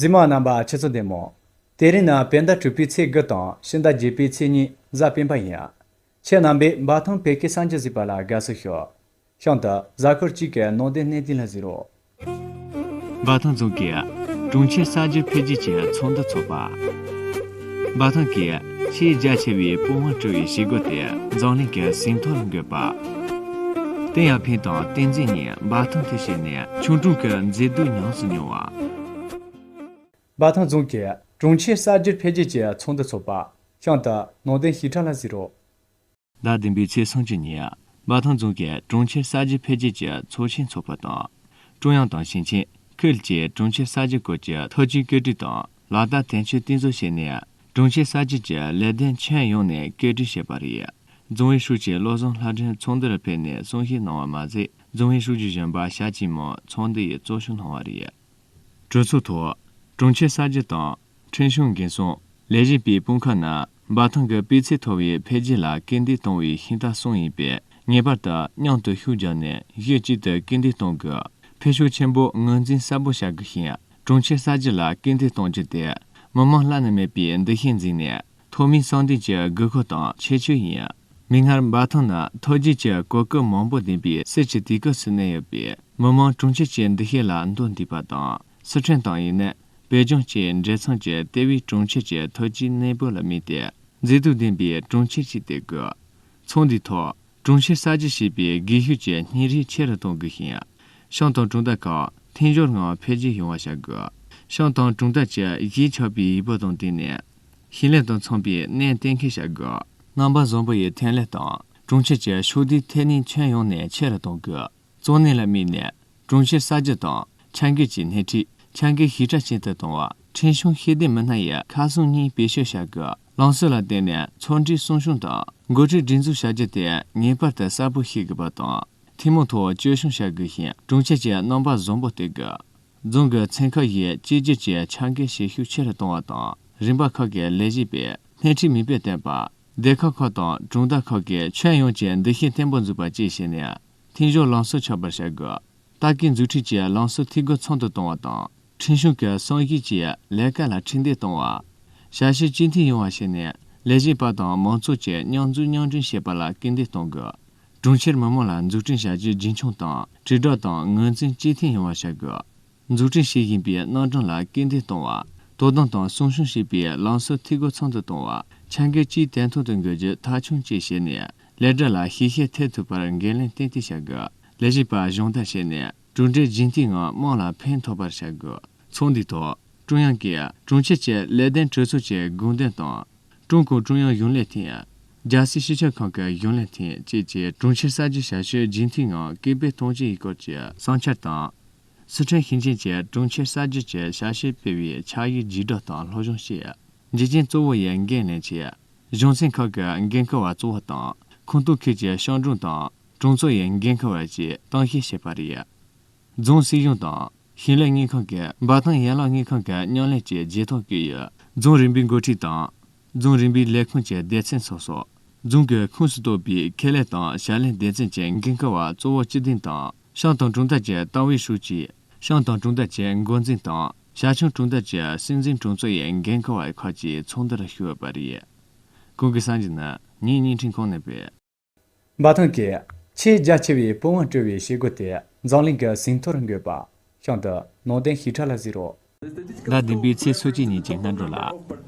རྫི་མ་རྣམ་པ་ཆེ་ཚོ་འདེམས་མོ། དེ་རིང་ན་བེ་ཟླ་དྲུག་པའི་ཚེས་དགུ་དང་ཕྱི་ཟླ་བརྒྱད་པའི་ཚེས་གཉིས་གཟའ་སྤེན་པ་ཡིན། ཁྱེད་རྣམ་པས་འབའ་ཐང་བེ་ཀེ་སངས་རྒྱས་གཟིགས་པ་ལ་དགའ་བསུ་ཞུ། གཤམ་དུ་གཟའ་འཁོར་གཅིག་གི་ནང་དེ་གནས་དེ་ལ་གཟིགས་རོགས། འབའ་ཐང་རྫོང་གིས་གྲོང་ཁྱེར་གསར་འགྱུར་འཕེལ་རྒྱས་ཀྱི་ཚོགས་འདུ་འཚོགས་པ། འབའ་ཐང་གིས་ཆེས་རྒྱ་ཆེ་བའི་སྤོ་བང་བཀྲུ་བའི་བྱེད་སྒོ་དེ་འཛམ་གླིང་གི་ཟིན་ཐོ་ལ་འགོད་པ། ཏིང་ཡར་ཕིང་དང་ཏིང་འཛིན་གཉིས་འབའ་ཐང་དུ་ཕྱིན་ནས་ཆུང་གྲོང་གི་མཛེས་སྡུག་ཉམས་སུ་མྱོང་བ། འབའ་ཐང་རྫོང་གིས་གྲོང་ཁྱེར་གསར་འགྱུར་འཕེལ་རྒྱས་ཀྱི་ཚོགས་འདུ་འཚོགས་པ། ཤང་ཏི་ནང་བསྟན་ཞིབ་ཕྲ་ལ་གཟིགས་རོགས། ཟླ་བདུན་པའི་ཚེས་སུམ་ཅུ་ཉིན་མ་ཐང་རྫོང་གིས་གྲོང་ཁྱེར་གསར་བརྗེ་འཕེལ་རྒྱས་ཀྱི་ཚོགས་ཆེན་འཚོགས་པ་དང། ཀྲུང་དབྱང་དང་ཞིང་ཆེན། ཁུལ་བཅས་གྲོང་ཁྱེར་གསར་བརྗེ་སྐོར་གྱི་ཐབས་ཇུས་བཀོད་སྒྲིག་དང་ལག་བསྟར་དོན་འཁྱོལ་གཏིང་ཟབ་བྱས་ནས་གྲོང་ཁྱེར་གསར་བརྗེ་གྱི་ལས་དོན་ཁྱོན་ཡོངས་ནས་སྐད་སྒྲིག་བྱས་པ་རེད། རྫོང་ཨུའི་ཧྲུའུ་ཅི་བློ་བཟང་ལྷ་སྒྲོན་ཚོགས་འདུར་ཕེབས་ནས་གསུང་བཤད་གནང་བ་མ་ཟད་རྫོང་ཨུའི་ཧྲུའུ་ཅི་གཞོན་པ་ཞྭ་སྐྱིད་མོ་ཚོགས་འདུ་ཡི་གཙོ་བྱུང་གནང་བ་རེད། གྲོས་ཚོགས་ཐོག་གྲོང་ཁྱེར་གསར་བརྗེ་དང། ཁྲིན་གཞུང་འགན་སྲུང་ལས་གཞི་པའི་དཔུང་ཁག་རྣམས་འབའ་ཐང་གི་སྤུས་ཚད་མཐོ་བའི་འཕེལ་རྒྱས་ལ་སྐུལ་འདེད་གཏོང་བའི་ཤིང་རྟ་གསུམ་ཡིན་པས་ངེས་པར་དུ་མཉམ་དུ་ཤུགས་རྒྱག་ནས་གཞི་གཅིག་ཏུ་སྐུལ་འདེད་གཏོང་དགོས། འཕེལ་ཕྱོགས་ཆེན་པོ་ངོས་འཛིན་གསལ་པོ་བྱ་དགོས་ཤིང་གྲོང་ཁྱེར་གསར་བརྗེ་ལ་སྐུལ་འདེད་གཏོང་རྒྱུ་དེ་མི་དམངས་བླ་ན་མེད་པའི་འདུ་ཤེས་འཛིན་ནས་ཐོག་མའི་སྲང་བརྟན་གྱི་དགོས་མཁོ་དང་ཁྱད་ཆོས་ཡིན། མིག་སྔར་འབའ་ཐང་ནི་མཐོ་རྒྱུགས་ཀྱི་གོ་སྐབས་མང་པོ་ལྡན་པའི་གསེར་གྱི་དུས་སྐབས་སུ་གནས་ཡོད་པས་མི་དམངས་གྲོང་ཁྱེར་གྱི་འདུ་ཤེས་ལ་མདོ་འདུས་པ་དང་སི་ཁྲོན་ཏང་ཡོན་ནི་བོད་ལྗོངས་ཆེས་མཛེས་མཚོན་གྱི་ལྟེ་བའི་གྲོང་ཁྱེར་གྱི་ཐོལ་སྐྱེས་གནས་སྤོས་ལ་དམིགས་ཏེ། མཛེས་སྡུག་ལྡན་པའི་གྲོང་ཁྱེར་ཞིག་སྟེར་དགོས། ཚོགས་འདུའི་ཐོག་གྲོང་གསེབ་གསར་བརྗེ་བྱེད་པའི་སྒུལ་ཤུགས་ཀྱི་བསྙེན་རིས་ཆེ་རུ་གཏོང་དགོས་ཤིང། ཤང་དང་གྲོང་རྡལ་ཁག་མཐུན་སྦྱོར་ངང་འཕེལ་རྒྱས་ཡོང་བ་བྱ་དགོས། ཤང་དང་གྲོང་རྡལ་གྱིས་གཞིས་ཆགས་པའི་ཡུལ་བབ་དང་བསྟུན་ནས། ཞིང་ལས་དང་འཚམ་པའི་གནས་གཏན་འཁེལ་བྱ་དགོས། རྔ་འབབ་བཟང་པོ་ཡི་ཐོན་ལས་དང་གྲོང་ཁྱེར་གྱི་ཕྱོགས་བསྡུས་ཐད་ནུས་ཁྱོན་ཡོངས་ནས་ཆེ་རུ་གཏོང་དགོས། གཙོ་གནད་ལ་དམིགས་ནས་གྲོང་ཁྱེར་གསར་བརྗེ་དང་ཆ་འགལ་གྱི་སྣེ་ཁྲིད་ཆ་འགལ་ཞི་དྲག་ཅན་དུ་གཏོང་བ། ཁྲིན་གཞུང་ཤེས་ལྡན་མི་སྣ་ཡི་ཁ་གསུམ་གཉིས་བེད་སྤྱོད་བྱ་དགོས་བླང་སྲོལ་ལ་བརྟེན་ནས་ཚོགས་འདྲིའི་གསུང་གཞུང་དང་འགོ་ཁྲིད་སྒྲིག་འཛུགས་བྱ་རྒྱུ་དེ་ངེས་པར་དུ་གསལ་པོ་ཤེས་དགོས་པ་དང་ཐུན་མོང་ཐོག་བཅོས་སྐྱོང་བྱ་དགོས་ཤིང་གྲོང་ཁྱེར་གྱི་རྣམ་པ་བཟང་པོ་གཏོད་དགོས། རྫོང་གི་ཚན་ཁག་བཞིའི་གཅིག་གྱུར་གྱི་ཆ་འགལ་བྱེད་ཤུགས་ཆེ་རུ་གཏོང་བ་དང་རིམ་པ་ཁག་གི་ལས་བྱེད་པས་སྣེ་ཁྲིད་མིང་དཔེ་བསྟན་པ། སྡེ་ཁག་ཁག་དང་གྲོང་རྡལ་ཁག་གིས་ཁྱོན་ཡོངས་ཀྱི་འདུ་ཤེས་བརྟན་པོ་འཛུགས་པ་བཅས་བྱས་ནས་འཐེན་གཞོག་རླངས་གསོ་ཆགས་པར་བྱ་དགོས། ལྟ་སྐུལ་མཛུབ་ཁྲིད་ཀྱིས་རླངས་གསོ་འཐུས་སྒོ་ཚང་དུ་གཏོང་བ་དང། འཕྲིན་གཞུང་གི་སྲུང་ཞིབ་ཀྱིས་ལས་ཀ་ལ་ཁྲིད་འདེད་གཏོང་བ། ཞབས་ཞུ་གཅིག་མཐུན་ཡོང་བ་བྱས་ནས་ལས་བྱེད་པ་དང་མང་ཚོགས་ཀྱིས་མཉམ་འཛུགས་མཉམ་སྐྲུན་བྱེད་པ་ལ་སྐུལ་འདེད་གཏོང་དགོས། གྲོང་ཁྱེར་མི་དམངས་ལ་འཛུགས་སྐྲུན་བྱ་རྒྱུ་རྒྱུན་འཁྱོངས་དང་དྲིལ་བསྒྲགས་དང་ངོས་འཛིན་གཅིག་མཐུན་ཡོང་བ་བྱ་དགོས། འཛུགས་སྐྲུན་བྱེད་བཞིན་པའི་སྣ་གྲངས་ལ་སྐུལ་འདེད་གཏོང་བ། དོ་དམ་དང་སྲུང་སྐྱོང་བྱེད་པའི་ལམ་སྲོལ་འཐུས་སྒོ་ཚང་དུ་གཏོང་བ། ཆ་འགལ་སྤྱིའི་དན་ཐོག་ཏུ་འགོད་རྒྱུ་མཐའ་འཁྱོངས་བཅས་བྱས་ནས་ལས་གྲྭ་ལ་ཤེས་བྱ་ཐེག་ཐུབ་པར་འགན་ལེན་ཏན་ཏིག་བྱ་དགོས། ལས་བྱེད་པ་གཞོགས་འདེགས་བྱས་ནས་གྲུབ་འབྲས་རྒྱུན་མཐུད་ངང་དམངས་ལ་ཕན་ཐོགས་པར་བྱ་དགོས། ཚོགས་འདུའི་ཐོག་ཀྲུང་དབྱང་གིས་གྲོང་ཁྱེར་བཅས་ལས་དོན་གྲོས་ཚོགས་ཀྱི་དགོངས་དོན་དང། ཀྲུང་གུང་ཀྲུང་དབྱང་གཞུང་ལས་ཐིང། རྒྱལ་སྲིད་སྤྱི་ཁྱབ་ཁང་གི་གཞུང་ལས་ཐིང་བཅས་ཀྱིས་གྲོང་ཁྱེར་གསར་བརྗེའི་བྱ་སྤྱོད་རྒྱུན་མཐུད་ངང་སྐུལ་སྤེལ་གཏོང་རྒྱུ་ཡིན་སྐོར་གྱི་བསམ་འཆར་དང། སི་ཁྲོན་ཞིང་ཆེན་བཅས་གྲོང་ཁྱེར་གསར་བརྗེ་བཅས་བྱ་གཞི་སྤེལ་བའི་ཕྱག་ཡིག་བརྒྱུད་བསྒྲགས་དང་སློབ་སྦྱོང་བྱས། འཇིག་རྟེན་གཙོ་བོ་ཡི་འགན་ལེན་བྱས། གཞུང་ཚན་ཁག་གི་འགན་འཁུར་བ་གཙོ་བོ་དང་ཁོངས་གཏོགས་ཁུལ་གྱི་ཤང་གྲོང་དང་གྲོང་ཚོ་ཡི་འགན་འཁུར་བ་བཅས་གཏན་འཁེལ་བྱས་པ་རེད། རྫོང་སྲིད་གཞུང་དང་ཞིང་ལས་དངུལ་ཁང་གི་འབའ་ཐང་ཡན་ལག་དངུལ་ཁང་གི་མཉམ་ལས་བཅས་རྗེས་ཐོག་བསྐྱོད་ཡོད། རྫོང་རིམ་པའི་འགོ་ཁྲིད་དང་རྫོང་རིམ་པའི་ལས་ཁུངས་ཀྱི་སྡེ་ཚན་སོ་སོ། རྫོང་གི་ཁོངས་སུ་གཏོགས་པའི་ཁེ་ལས་དང་ཞབས་ལས་སྡེ་ཚན་གྱི་འགན་འཁུར་བ་གཙོ་བོ་སྤྱི་བདེ་དང་ཤང་དང་གྲོང་རྡལ་གྱི་ཏང་ཨུའི་ཧྲུའུ་ཅི། ཤང་དང་གྲོང་རྡལ་གྱི་འགོ་འཛིན་དང་ཞང་ཞུང་གྲོང་རྡལ་གྱི་སྲིད་འཛིན་གྲོང་ཚོ་ཡི་འགན་འཁུར་བ་ཁག་ཅིག་ཚོགས་འདུར་ཞུགས་པ་རེད། ཁོང་གིས་སངས་རྒྱས་ནི་ངའི་བརྙན་འཕྲིན་ཁང་ནས་པའི། འབའ་ཐང་གི། ཆེས་རྒྱ་ཆེ་བའི་དཔུང་བ་བཀྲོལ་བའི་བྱེད་སྒོ་དེ་འཛམ་གླིང་གི་ཟིན་ཐོར་འགོད་པ། ཤང་དུ། ནང་བསྟན་ཞིབ་ཕྲ་ལ་གཟིགས་རོགས། ཟླ་བདུན་པའི་ཚེས་སོ་གཅིག་ཉིན་གྱི་སྔ་དྲོ་ལ།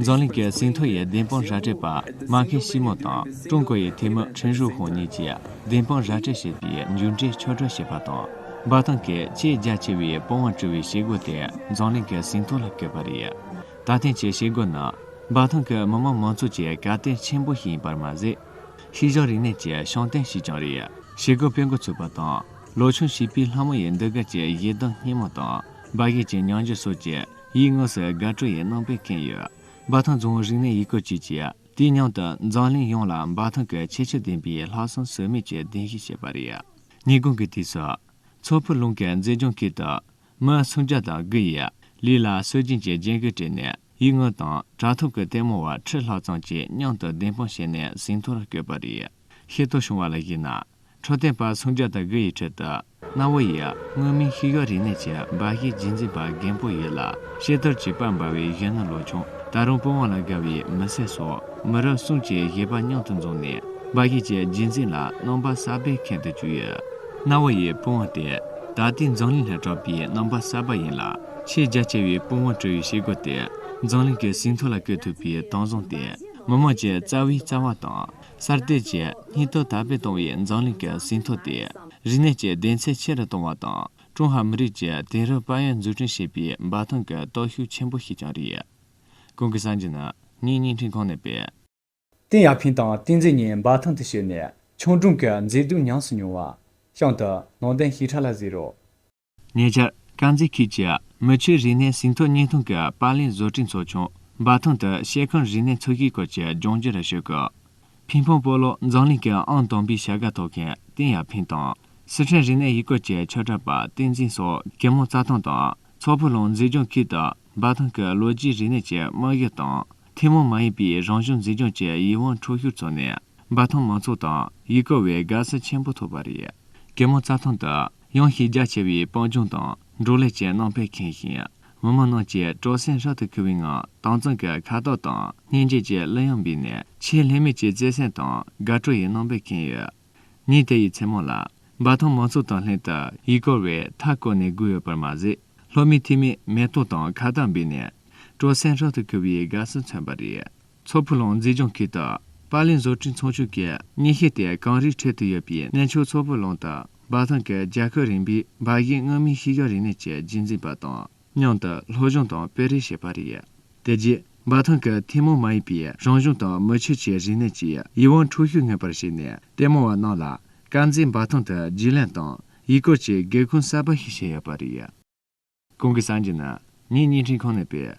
འཛམ་གླིང་གི་ཟིན་ཐོ་ཡི་བདེན་དཔང་ར་སྤྲོད་པ་མ་མཁན་ཞི་མོ་དང་ཀྲུང་གོ་ཡི་འཐུས་མི་ཁྲིན་ཧྲུའུ་ཧུང་གཉིས་ཀྱིས་བདེན་དཔང་ར་སྤྲོད་བྱས་པའི་མཇུག་འབྲས་ཕྱོགས་སྒྲོག་བྱས་པ་དང། འབའ་ཐང་གི་ཆེས་རྒྱ་ཆེ་བའི་དཔུང་བ་བཀྲོལ་བའི་བྱེད་སྒོ་དེ་འཛམ་གླིང་གི་ཟིན་ཐོ་ལ་བཀོད་པ་རེད། ད་ཐེངས་ཀྱི་བྱེད་སྒོ་ནི། འབའ་ཐང་གི་མི་དམངས་མང་ཚོགས་ཀྱི་བཀའ་བསྟན་ཆེན་པོ་ཞིག་ཡིན་པར་མ་ཟད། ཤིས་ལྗོངས་རིག་གནས་ཀྱི་ཤོང་སྟེང་ཞིག་ཀྱང་རེད། ཞེ་དགུ་སྤེལ་འགོ་ཚུགས་པ་དང་ལོ་ཆུང་བྱིས་པའི་ལྷ་མོ་ཡི་འདུལ་དགའ་བཅས་ཡིད་གདུང་སྙན་མོ་དང་འབའ་ཡིག་གི་མྱང་འགྱུར་སོགས་ཀྱིས་ཡིད་ངོ་སོས་དགའ་སྤྲོ་ཡི་སྣང་བས་ཁེངས་ཡོད། འབའ་ཐང་རྫོང་རིག་གནས་ཡུལ་སྐོར་ཅུས་ཀྱིས་དུས་མཉམ་དུ་འཛམ་གླིང་ཡོངས་ལ་འབའ་ཐང་གི་ཁྱད་ཆོས་ལྡན་པའི་ལྷག་བསམ་ཟོལ་མེད་ཀྱི་གདན་ཞུ་བྱས་པ་རེད། ཉིན་གུང་གི་དུས་སུ། མཚོ་ཕུ་ལུང་གི་མཛེས་ལྗོངས་ཁུལ་དུ། སྔར་མཚོན་ཆ་དང་དགུ་ཡིས་ལུས་ལ་གསོད་སྦྱིན་གྱི་རྒྱན་གོས་སྤྲས་ནས་ཡིག་ངོ་དང་དྲ་ཐོག་གི་ལྟད་མོ་བ་ཁྲི་ལྷག་ཙམ་གྱིས་མཉམ་དུ་བདེན་དཔང་བྱས་ནས་ཟིན་ཐོར་བསྐྱོད་པ་རེད། ཤེས་རྟོགས་བྱུང་བ་ལ་གཞིགས་ན། འཕྲོད་བསྟེན་པ་མཚོན་ཆ་དང་དགུ་ཡི་ཁྲོད་དུ་གནའ་བོ་ཡི་དངོས་མིང་ཤི་གཡོག་རིག་གནས་ཀྱི་འབའ་ཞིག་རྗེས་འཛིན་པ་རྒན་པོ་ཡོད་ལ་ཤེས་རྟོགས་ཀྱི་དཔལ་འབར་བའི་གཞོན་ནུ་ལོ་ཆུང་ད་རུང་པོ་དབང་ལ་དགའ་བའི་མི་སེར་སོགས་མི་རབས་གསུམ་གྱི་བཞེད་པ་མཉམ་དུ་འཛོམས་ནས་འབའ་ཞིག་གི་རྗེས་འཛིན་ལ་རྣམ་པ་གསར་པས་ཁེངས་དུ་བཅུག་ཡོད། རྣ་བ་ཡི་དཔུང་བ་སྟེ། ད་ལྟའི་འཛམ་གླིང་ལྷའི་གྲགས་པའི་རྣམ་པ་གསར་པ་ཡིན་ལ། ཆེས་རྒྱ་ཆེ་བའི་དཔུང་བ་གྲུ་ཡི་ཕྱི་སྒོ་སྟེ། འཛམ་གླིང་གི་ཟིན་ཐོ་ལ་བཀོད་ཐུབ་པའི་དྭངས་བཟང་སྟེ། མི་དམངས་ཀྱི་རྩ་བའི་རྩ་བ་དང། གསར་གཏོད་ཀྱིས་སྙིགས་དོར་དར་སྤེལ་གཏོང་བའི་འཛམ་གླིང་གི་ཟིན་ཐོ་སྟེ། རིག་གནས་ཀྱི་བདེན་ཚད་ཆེ་རུ་གཏོང་བ་དང་ཀྲུང་ཧྭ་མི་རིགས་ཀྱི་དེང་རབས་དཔལ་ཡོན་འཛུགས་སྐྲུན་བྱེད་པའི་འབའ་ཐང་གི་སྟོབས་ཤུགས་ཆེན་པོ་ཞིག་ཀྱང་རེད། གོང་གི་གསར་འགྱུར་ནི་ངས་བརྙན་འཕྲིན་ཁང་ནས་སྤེལ། ཏིང་ཡར་ཕིང་དང་ཏིང་འཛིན་གཉིས་འབའ་ཐང་དུ་བྱས་ནས་ཆང་སྒྲུང་གི་མཛེས་སྡུག་ཉམས་སུ་མྱོང་བ། གཤམ་དུ། ནང་བསྟན་ཞིབ་ཕྲ་ལ་གཟིགས་རོགས། ཉེ་ཆར། དཀར་མཛེས་ཁུལ་གྱི་མི་ཆོས་རིག་གནས་ཟིན་ཐོ་བརྙན་ཐུང་གི་པར་ལེན་བཟོ་སྐྲུན་ཚོགས་ཆུང། འབའ་ཐང་དུ་ཤེལ་ཁང་རིག་གནས་ཚོགས་ཞུགས་སྐོར་གྱི་ལྗོངས་རྒྱུ་རུ་ཞུགས། ཕིང་ཕོང་སྤོ་ལོ་འཛམ་གླིང་གི་ཨང་དང་པོའི་བྱ་དགའ་ཐོབ་མཁན་ཏིང་ཡར་ཕིང་དང། སི་ཁྲོན་རིག་གནས་ཡུལ་སྐོར་གྱི་ཆོས་གྲགས་པ་ཏིང་འཛིན་སོགས་གེ་མོ་རྩྭ་ཐང་དང་མཚོ་ཕུ་ལུང་མཛེས་ལྗོངས་ཁུལ་དུ་འབའ་ཐང་གི་ལོ་རྒྱུས་རིག་གནས་ཀྱི་དམག་ཡུལ་དང། ཐེངས་མང་མ་ཡིན་པའི་རང་བྱུང་མཛེས་ལྗོངས་ཀྱི་ཡིད་དབང་འཕྲོག་ཤུགས་བཙོག་ནས་འབའ་ཐང་མང་ཚོགས་དང་ཡིད་སྐྱོ་བའི་དགའ་བསུ་ཆེན་པོ་ཐོབ་པ་རེད། གད་མོ་རྩྭ་ཐང་དུ་ཡང་ཤེས་རྒྱ་ཆེ་བའི་སྤང་ལྗོངས་དང་འབྲོག་ལས་ཀྱི་སྣང་བས་ཁེངས་ཤིང། མི་དམངས་རྣམས་ཀྱིས་སྤྲོ་སེམས་ཧྲག་ཏུ་འཁོལ་བའི་ངང་དྭངས་གཙང་གི་ཁ་དོག་དང་སྙན་འཇེབས་ཀྱི་གླུ་དབྱངས་སྦས་ནས་ཆེས་ལྷད་མེད་ཀྱི་བརྩེ་སེམས་དང་དགའ་སྤྲོ་ཡི་སྣང་བས་ཁེངས་ཡོད། ཉིད་དེ་ཡི་མཚན་མོ་ལ། འབའ་ཐང་མང་ཚོགས་དང་ལྷན་དུ་ཡིད་སྐོར་བས་མཐའ་བསྐོར་ནས་སྒུག་ཡོད་པར་མ་ཟད། ལྷོ་མི་ཐི་མས་མེ་ཏོག་དང་ཁ་བཏགས་འབུལ་ནས། སྤྲོ་གསེང་ཧྲག་ཏུ་ཁུར་བའི་དགའ་བསུ་མཚོན་པ་རེད། མཚོ་ཕུ་ལུང་མཛེས་ལྗོངས་ཁུལ་དུ། པར་ལེན་བཟོ་སྐྲུན་ཚོང་ཆུང་གི་གཉེན་ཤིང་སྟེ་གངས་རིའི་ཁྲོད་དུ་ཡོད་པའི་གནས་མཆོག་མཚོ་ཕུ་ལུང་དང་འབའ་ཐང་གི་རྒྱལ་ཁབ་རིམ་པའི་འབའ་གཞིས་མངོན་མིན་ཤེས་བྱ་རིག་གནས་ཀྱི་རྒྱུན་འཛིན་པ་དང། སྙིང་དུ་བློ་སྦྱོང་དང་སྤེལ་རེས་བྱེད་པ་རེད། དེ་རྗེས་འབའ་ཐང་གི་ཐུན་མོང་མ་ཡིན་པའི་རང་གཞུང་དང་མི་ཆོས་ཀྱི་རིག་གནས་ཀྱི་ཡིད་དབང་འཕྲོག་ཤུགས་ངེས་པར་བྱས་ནས་ལྟད་མོ་བ་རྣམས་ལ་དཀར་མཛེས་འབའ་ཐང་དུ་རྒྱུས་ལོན་དང་ཡུལ་སྐོར་གྱི་སྒེའུ་ཁུང་གསར་པ་ཞིག་བྱས་ཡོད་པ་རེད། གོང་གི་སངས་རྒྱས་ནི་ངའི་བརྙན་འཕྲིན་ཁང་ནས་སྤེལ།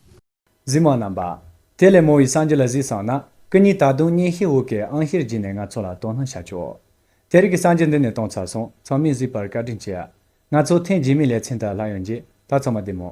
གཟིགས་མ་རྣམ་པ། དེ་ལས་མོ་ཡི་སངས་རྒྱས་ལ་གཟིགས་བསམ་ན། སྐུ་ཉིད་ད་དུང་གཉེན་ཤེས་འུ་གའི་ཨང་ཤེར་བགྱིས་ནས་ང་ཚོ་ལ་དོ་སྣང་བྱ་ཆོག། དེ་རིགས་ཀྱི་སངས་རྒྱས་འདི་ནས་གཏོང་ཚར་སོང་ཚང་མས་གཟིགས་པར་བཀའ་དྲིན་ཆེ། ང་ཚོ་ཐེངས་རྗེས་མའི་ལེ་ཚན་དག་ལྷག་ཡོང་རྗེས་ད་ཚང་མ་བསྡད་མོ།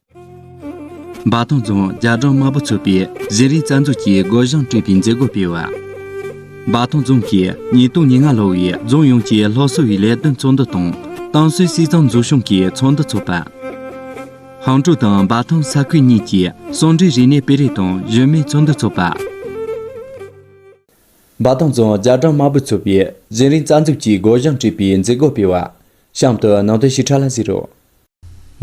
འབའ་ཐང་རྫོང་རྒྱ་གྲམ་དམར་པོ་ཚོགས་པའི་གཞི་རིམ་རྩ་འཛུགས་ཀྱིས་སྒོ་བྱང་སྤྲོད་པའི་མཛད་སྒོ་སྤེལ་བ། འབའ་ཐང་རྫོང་གིས་ཉིས་སྟོང་ཉེར་ལྔ་ལོ་བའི་རྫོང་ཡོངས་ཀྱི་སློབ་གསོ་བའི་ལས་དོན་ཚོགས་འདུ་དང་ཏང་སྲོལ་སྲིད་གཙང་འཛུགས་སྐྱོང་གི་ཚོགས་འདུ་འཚོགས་པ། ཧང་ཀྲོའུ་དང་འབའ་ཐང་ས་ཁུལ་གཉིས་ཀྱི་ཟུང་འབྲེལ་རིག་གནས་སྤེལ་རེས་དང་གཞོན་མའི་ཚོགས་འདུ་འཚོགས་པ། འབའ་ཐང་རྫོང་རྒྱ་གྲམ་དམར་པོ་ཚོགས་པའི་གཞི་རིམ་རྩ་འཛུགས་ཀྱིས་སྒོ་བྱང་སྤྲོད་པའི་མཛད་སྒོ་སྤེལ་བ། གཤམ་དུ་ནང་དོན་ཞིབ་ཕྲ་ལ་གཟིགས་རོགས།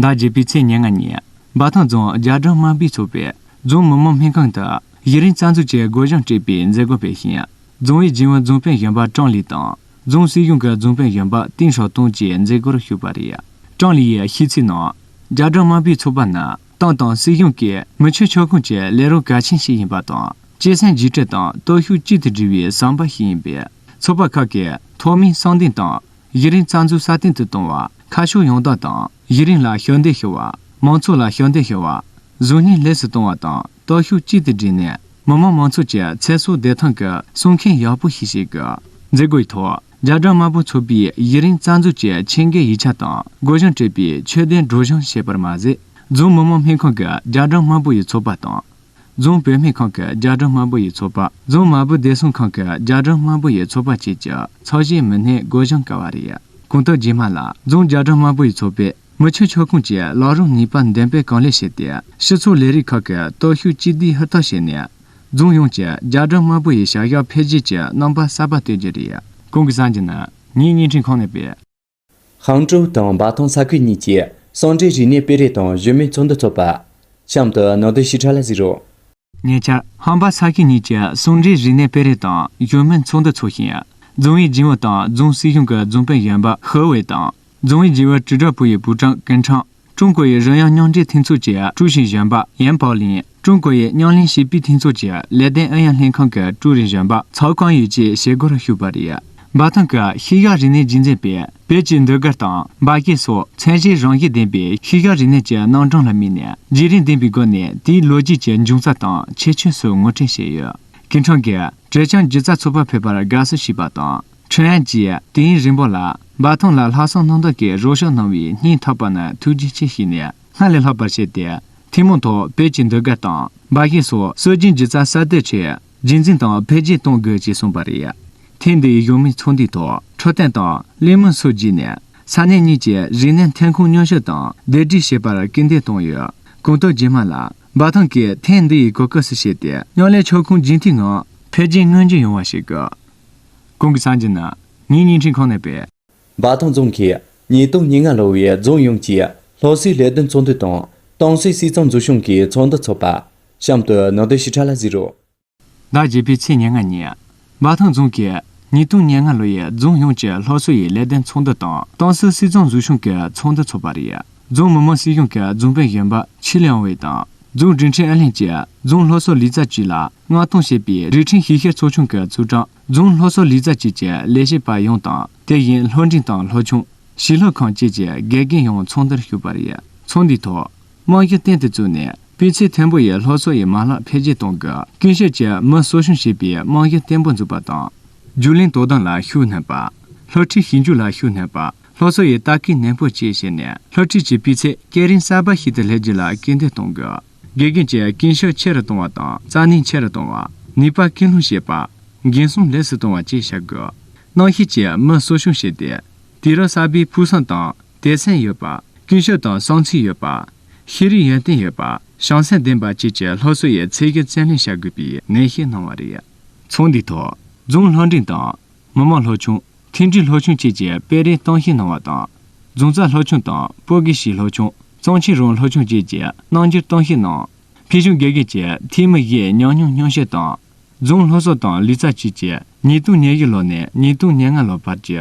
ཟླ་བརྒྱད་པའི་ཚེས་ཉེར་ལྔ་ཉིན་འབའ་ཐང་རྫོང་རྒྱ་གྲམ་དམར་པོའི་ཚོགས་པས་རྫོང་མི་དམངས་སྨན་ཁང་དུ་གཞི་རིམ་རྩ་འཛུགས་ཀྱི་སྒོ་བྱང་སྤྲད་པའི་མཛད་སྒོ་སྤེལ་ཞིང། རྫོང་ཨུའི་རྒྱུན་ཨུ་རྫོང་དཔོན་གཞོན་པ་ཀྲང་ལི་དང་རྫོང་སྲིད་གཞུང་གི་རྫོང་དཔོན་གཞོན་པ་ཏིང་ཞའོ་ཏུང་བཅས་མཛད་སྒོར་ཞུགས་པ་རེད། ཀྲང་ལི་ཡིས་ཤིས་ཚིག་ནང། རྒྱ་གྲམ་དམར་པོའི་ཚོགས་པ་ནི་ཏང་དང་སྲིད་གཞུང་གིས་མི་ཆོས་ཕྱོགས་ཁོངས་ཀྱི་ལས་རོགས་གལ་ཆེན་ཞིག་ཡིན་པ་དང་སྤྱི་སེམས་གཞི་གྲལ་དང་སྟོབས་ཤུགས་གཅིག་ཏུ་སྒྲིལ་བའི་ཟམ་པ་ཞིག་ཡིན་པས་ཚོགས་པ་ཁག་གིས་ཐོག་མའི་གསང་འདུན་དང་གཞི་རིམ་རྩ་འཛུགས་སྲ་བརྟན་དུ་གཏོང་བ། ཁ་ཕྱོགས་ཡོངས་བདག་དང་གཞི་རིམ་ལ་ཤུགས་འདེད་ཞུ་བ། མང་ཚོགས་ལ་ཤུགས་འདེད་ཞུ་བ། གཟུགས་བརྙན་ལེགས་སུ་གཏོང་བ་དང་སྟོབས་ཤུགས་གཅིག་ཏུ་བསྒྲིལ་ནས་མི་དམངས་མང་ཚོགས་ཀྱི་ཚེ་སྲོག་བདེ་ཐང་གི་སྲུང་མཁན་ཡག་པོ་ཞིག་བྱེད་དགོས། མཛད་སྒོའི་ཐོག་རྒྱ་གྲམ་དམར་པོ་ཚོགས་པའི་གཞི་རིམ་རྩ་འཛུགས་ཀྱི་ཆེད་མཁས་ཡིག་ཆ་དང་སྒོ་གཞུང་སྤྲོད་པའི་ཆོས་དད་སྒྲོག་གཞུང་བྱས་པར་མ་ཟད། རྫོང་མི་དམངས་སྨན་ཁང་གི་རྒྱ་གྲམ་དམར་པོ་ཡི་ཚོགས་པ་དང། རྫོང་བོད་སྨན་ཁང་གི་རྒྱ་གྲམ་དམར་པོ་ཡི་ཚོགས་པ་རྫོང་དམར་པོ་བདེ་སྲུང་ཁང་གི་རྒྱ་གྲམ་དམར་པོ་ཡི་ཚོགས་པ་བཅས་ཀྱི་ཚོགས་གཞན་མི་སྣས་སྒོ་བཞེངས་དཀའ་བ་རེད། གོང་དུ་རྗེས་མ་ལ་རྫོང་རྒྱ་གྲམ་དམར་པོ་ཡི་ཚོགས་པས་མི་ཆོས་ཕྱོགས་ཁོངས་ཀྱི་ལག་རུང་ནུས་པ་འདོན་སྤེལ་གང་ལེགས་བྱས་ཏེ་སྤྱི་ཚོགས་ལས་རིགས་ཁག་གི་སྟོབས་ཤུགས་གཅིག་སྡུད་ཧུར་ཐག་བྱས་ནས་རྫོང་ཡོངས་ཀྱི་རྒྱ་གྲམ་དམར་པོ་ཡི་བྱ་གཞག་འཕེལ་རྒྱས་ཀྱི་རྣམ་པ་གསར་པ་གཏོད་རྒྱུ་རེད། གོང་གི་གསར་འགྱུར་ནི་ངས་བརྙན་འཕྲིན་ཁང་ནས་སྤེལ། ཧང་ཀྲོའུ་དང་འབའ་ཐང་ས་ཁུལ་གཉིས་ཀྱིས་ཟུང་འབྲེལ་རིག་གནས་སྤེལ་རེས་དང་གཞོན་ནུའི་ཚོགས་འདུ་འཚོགས་པ། གཤམ་དུ་ནང་དོན་ཞིབ་ཕྲ་ལ་གཟིགས་རོགས། ཉེ་ཆར། ཧང་འབའ་ས་ཁུལ་གཉིས་ཀྱིས་ཟུང་འབྲེལ་རིག་གནས་སྤེལ་རེས་དང་གཞོན་ནུའི་ཚོགས་འདུ་འཚོགས་ཤིང། རྫོང་ཨུའི་སྦྱིན་བུ་དང་རྫོང་སྲིད་གཞུང་གི་རྫོང་དཔོན་གཞོན་པ་ཧུའུ་ཝེ་དང། རྫོང་ཨུའི་སྦྱིན་བུ་ཀྲི་ཀྲོའུ་པུའུ་ཡི་པུའུ་ཀྲང་ཀན་ཁྲང། ཀྲུང་གོ་ཡི་རོལ་དབྱངས་སྙིང་འདྲེན་མཐུན་ཚོགས་ཀྱི་ཀྲུའུ་ཞི་གཞོན་པ་ཡན་པའོ་ལིན། ཀྲུང་གོ་ཡི་སྙིང་བརླན་ཞིབ་སྤེལ་མཐུན་ཚོགས་ཀྱི་ལས་དོན་ཨུ་ཡོན་ལྷན་ཁང་གི་ཀྲུའུ་རེན་གཞོན་པ་ཚའོ་ཀང་ཡུས་བཅས་བྱེད་སྒོ་རུ་ཞུགས་པ་རེད། འབའ་ཐང་གི་ཤེས་དབྱར་རིག་གནས་རྒྱུན་འཛིན་པས་བོད་ཀྱི་འདུལ་སྒར་དང་འབའ་སྐད་སོགས་ཚད་གཞི་རང་བཞིན་ལྡན་པའི་ཤེས་དབྱར་རིག་གནས་ཀྱི་སྣང་གྲངས་ལ་དམིགས་ནས་བརྗེ་རེས་ལྡན་པའི་སྒོ་ནས་དེའི་ལོ་རྒྱུས་ཀྱི་འབྱུང་རྩ་དང་ཁྱད་ཆོས་སོགས་ངོ་སྤྲོད་བྱས་ཡོད། ཀི་ཁྲང་གིས་བྲེ་ཆང་སྒྱུ་རྩལ་ཚོགས་པ་ཕེབས་པར་དགའ་བསུ་ཞུས་པ་དང། ཁྲེན་ཅི། དེང་རིན་པོ་ལགས། འབའ་ཐང་ལ་ལྷ་སྲུང་སྣང་མདོག་གིས་རོགས་ཞུགས་གནང་བའི་སྙིང་ཐག་པ་ན་ཐུགས་རྗེ་ཆེ་ཞུས་ནས་སྔར་ལས་ལྷག་པར་བྱས་ཏེ། ཐུན་མོང་ཐོག་བོད་ཀྱི་འདུལ་དགག་དང་འབའ་གཞས་སོགས་སྲོལ་རྒྱུན་གྱི་རྩ་གསར་གཏོད་ཆེད་རྒྱུན་འཛིན་དང་འཕེལ་རྒྱས་གཏོང་དགོས་ཞེས་གསུངས་པ་རེད། ཐེངས་འདིའི་གཞུང་མིང་ཚོགས་འདུའི་ཐོག་འཕྲོད་བསྟེན་དང་གླེང་མོལ་སོགས་བརྒྱུད་ནས་ས་གནས་གཉིས་ཀྱི་རིག་གནས་ཐོན་ཁུངས་ཉོ་སྤྱོད་དང་སྡེབ་སྒྲིག་བྱེད་པར་སྐུལ་འདེད་བཏང་ཡོད། གོང་དུ་རྗེས་མ་ལ་འབའ་ཐང་གིས་ཐེངས་འདིའི་གོ་སྐབས་སུ་བྱས་ཏེ་མཉམ་ལས་ཕྱོགས་ཁོངས་རྒྱུན་མཐུད་ངང་འཕེལ་རྒྱས་མངོན་འགྱུར་ཡོང་བ་བྱེད་དགོས། ཀུན་གྱི་སངས་རྒྱས་རྣམས། ངའི་བརྙན་འཕྲིན་ཁང་ནས་སྤེལ། འབའ་ཐང་རྫོང་གིས་ཉིས་སྟོང་ཉིས་ལྔ་ལོ་བའི་རྫོང་ཡོངས་ཀྱི་སློབ་གསོའི་ལས་དོན་ཚོགས་འདུ་དང་ཏང་སྲིད་སྲིད་གཙང་འཛུགས་སྐྱོང་གི་ཚོགས་འདུ་འཚོགས་པ། གཤམ་དུ་ནང་དོན་ཞིབ་ཕྲ་ལ་གཟིགས་རོགས། ཟླ་བརྒྱད་པའི་ཚེས་ཉེར་ལྔ་ཉིན། འབའ་ཐང་རྫོང་གིས་ཉིས་སྟོང་ཉེར་ལྔ་ལོ་ཡི་རྫོང་ཡོངས་ཀྱི་སློབ་གསོ་ཡི་ལས་དོན་ཚོགས་འདུ་དང་ཏང་སྲིད་སྲིད་གཙང་འཛུགས་སྐྱོང་གི་ཚོགས་འདུ་འཚོགས་པ་རེད། རྫོང་མི་དམངས་སྲིད་གཞུང་གི་རྫོང་དཔོན་གཞོན་པ་ཆི་ལིའང་ཝེ་དང་རྫོང་འབྲིང་ཁྲིན་ཨན་ལིན་གྱིས་རྫོང་སློབ་གསོ་ལས་རྩ་གཅིག་ལ་མངགས་གཏོང་བྱས་པའི་རིས་ཁྲིན་ཞིང་ཤར་ཚོགས་ཆུང་གི་ཚོགས་དྲང་རྫོང་ལྷོ་སོག་ལུས་རྩལ་བཅས་ཀྱི་ལས་བྱེད་པ་ཡོངས་དང་དེ་བཞིན་ལྷོ་འབྲིང་དང་ལྷོ་ཆུང། ཞིང་ལྷོ་ཁང་བཅས་ཀྱི་དགེ་རྒན་ཡོངས་ཚོགས་འདུར་ཞུགས་པ་རེད། ཚོགས་འདུའི་ཐོག། རྨང་གཞི་བརྟན་དུ་བཙུགས་ནས་སྤུས་ཚད་མཐོན་པོ་ཡི་ལྷོ་སོག་ཡའི་མ་ལག་འཕེལ་རྒྱས་གཏོང་དགོས། ཀུན་ཤེས་ཀྱིས་མི་གསོ་སྲུང་བྱེད་པའི་རྨང་གཞི་བརྟན་པོ་འཛུགས་པ་དང། རྒྱུགས་ལེན་དོ་དམ་ལ་ཤུགས་བསྣན་པ། ལྷོ་ཁྲིད་ཞིབ་འཇུག་ལ་ཤུགས་བསྣན་པ། ལྷོ་སོག་ཡའི་ལྟ་སྐུལ་ནན་པོ་བཅས་བྱས་ནས་ལྷོ་ཁྲིད་ཀྱི་སྤུས་ཚད་སྐས་རིམ་གསར་པ་ཞིག་ཏུ་སླེབས་རྒྱུ་ལ་སྐུལ་འདེད་གཏོང་དགོས། དགེ་རྒན་གྱིས་རྐྱེན་ཤུགས་ཆེ་རུ་གཏོང་བ་དང་རྩལ་ནུས་ཆེ་རུ་གཏོང་བ། ནུས་པ་སྐུལ་སློང་བྱེད་པ། འགན་སྲུང་ལེགས་སུ་གཏོང་བ་བཅས་བྱ་དགོས། གནའ་ཤུལ་གྱི་མི་གསོ་སྐྱོང་བྱས་ཏེ། དུས་རབས་གསར་པའི་ཕུགས་བསམ་དང་དད་སེམས་ཡོད་པ། ཀུན་སྤྱོད་དང་བསམ་ཚུལ་ཡོད་པ། ཤེས་རིག་ཡོན་ཏན་ཡོད་པ། བྱང་སེམས་ལྡན་པ་བཅས་ཀྱི་སློབ་གསོ་ཡི་ཚད་བརྒལ་བརྩོན་ལེན་བྱ་དགོས་པའི་ནན་བཤད་གནང་བ་རེད། ཚོགས་འདུའི་ཐོག་རྫོང་ལྷ་འབྲིང་དང་མི་དམངས་ལྷོ་ཆུང། མཐུན་སྒྲིལ་ལྷོ་ཆུང་བཅས་ཀྱི་སྤེལ་རེས་སྟངས་ཤིག་གནང་བ་དང། རྫོང་རྩ་ལྷོ་ཆུང་དང་སྤོ་གེ་ཞི་ལྷོ་ཆུང། གཙང་ཆེན་རོང་ལྷོ་ཆུང་བཅས་ཀྱི་སྣང་འགྱུར་སྟངས་ཤིག་གནང། ཕུལ་བྱུང་དགེ་རྒན་གྱི་ཐེངས་མི་བཞིའི་ཉམས་མྱོང་སྙུང་གཞི་དང། རྫོང་ལྷོ་སོག་དང་ལི་ཙཱ་བཅས་ཀྱི་ཉིས་སྟོང་ཉེར་བཞི་ལོ་ནས་ཉིས་སྟོང་ཉེར་ལྔ་ལོ་བར་གྱི་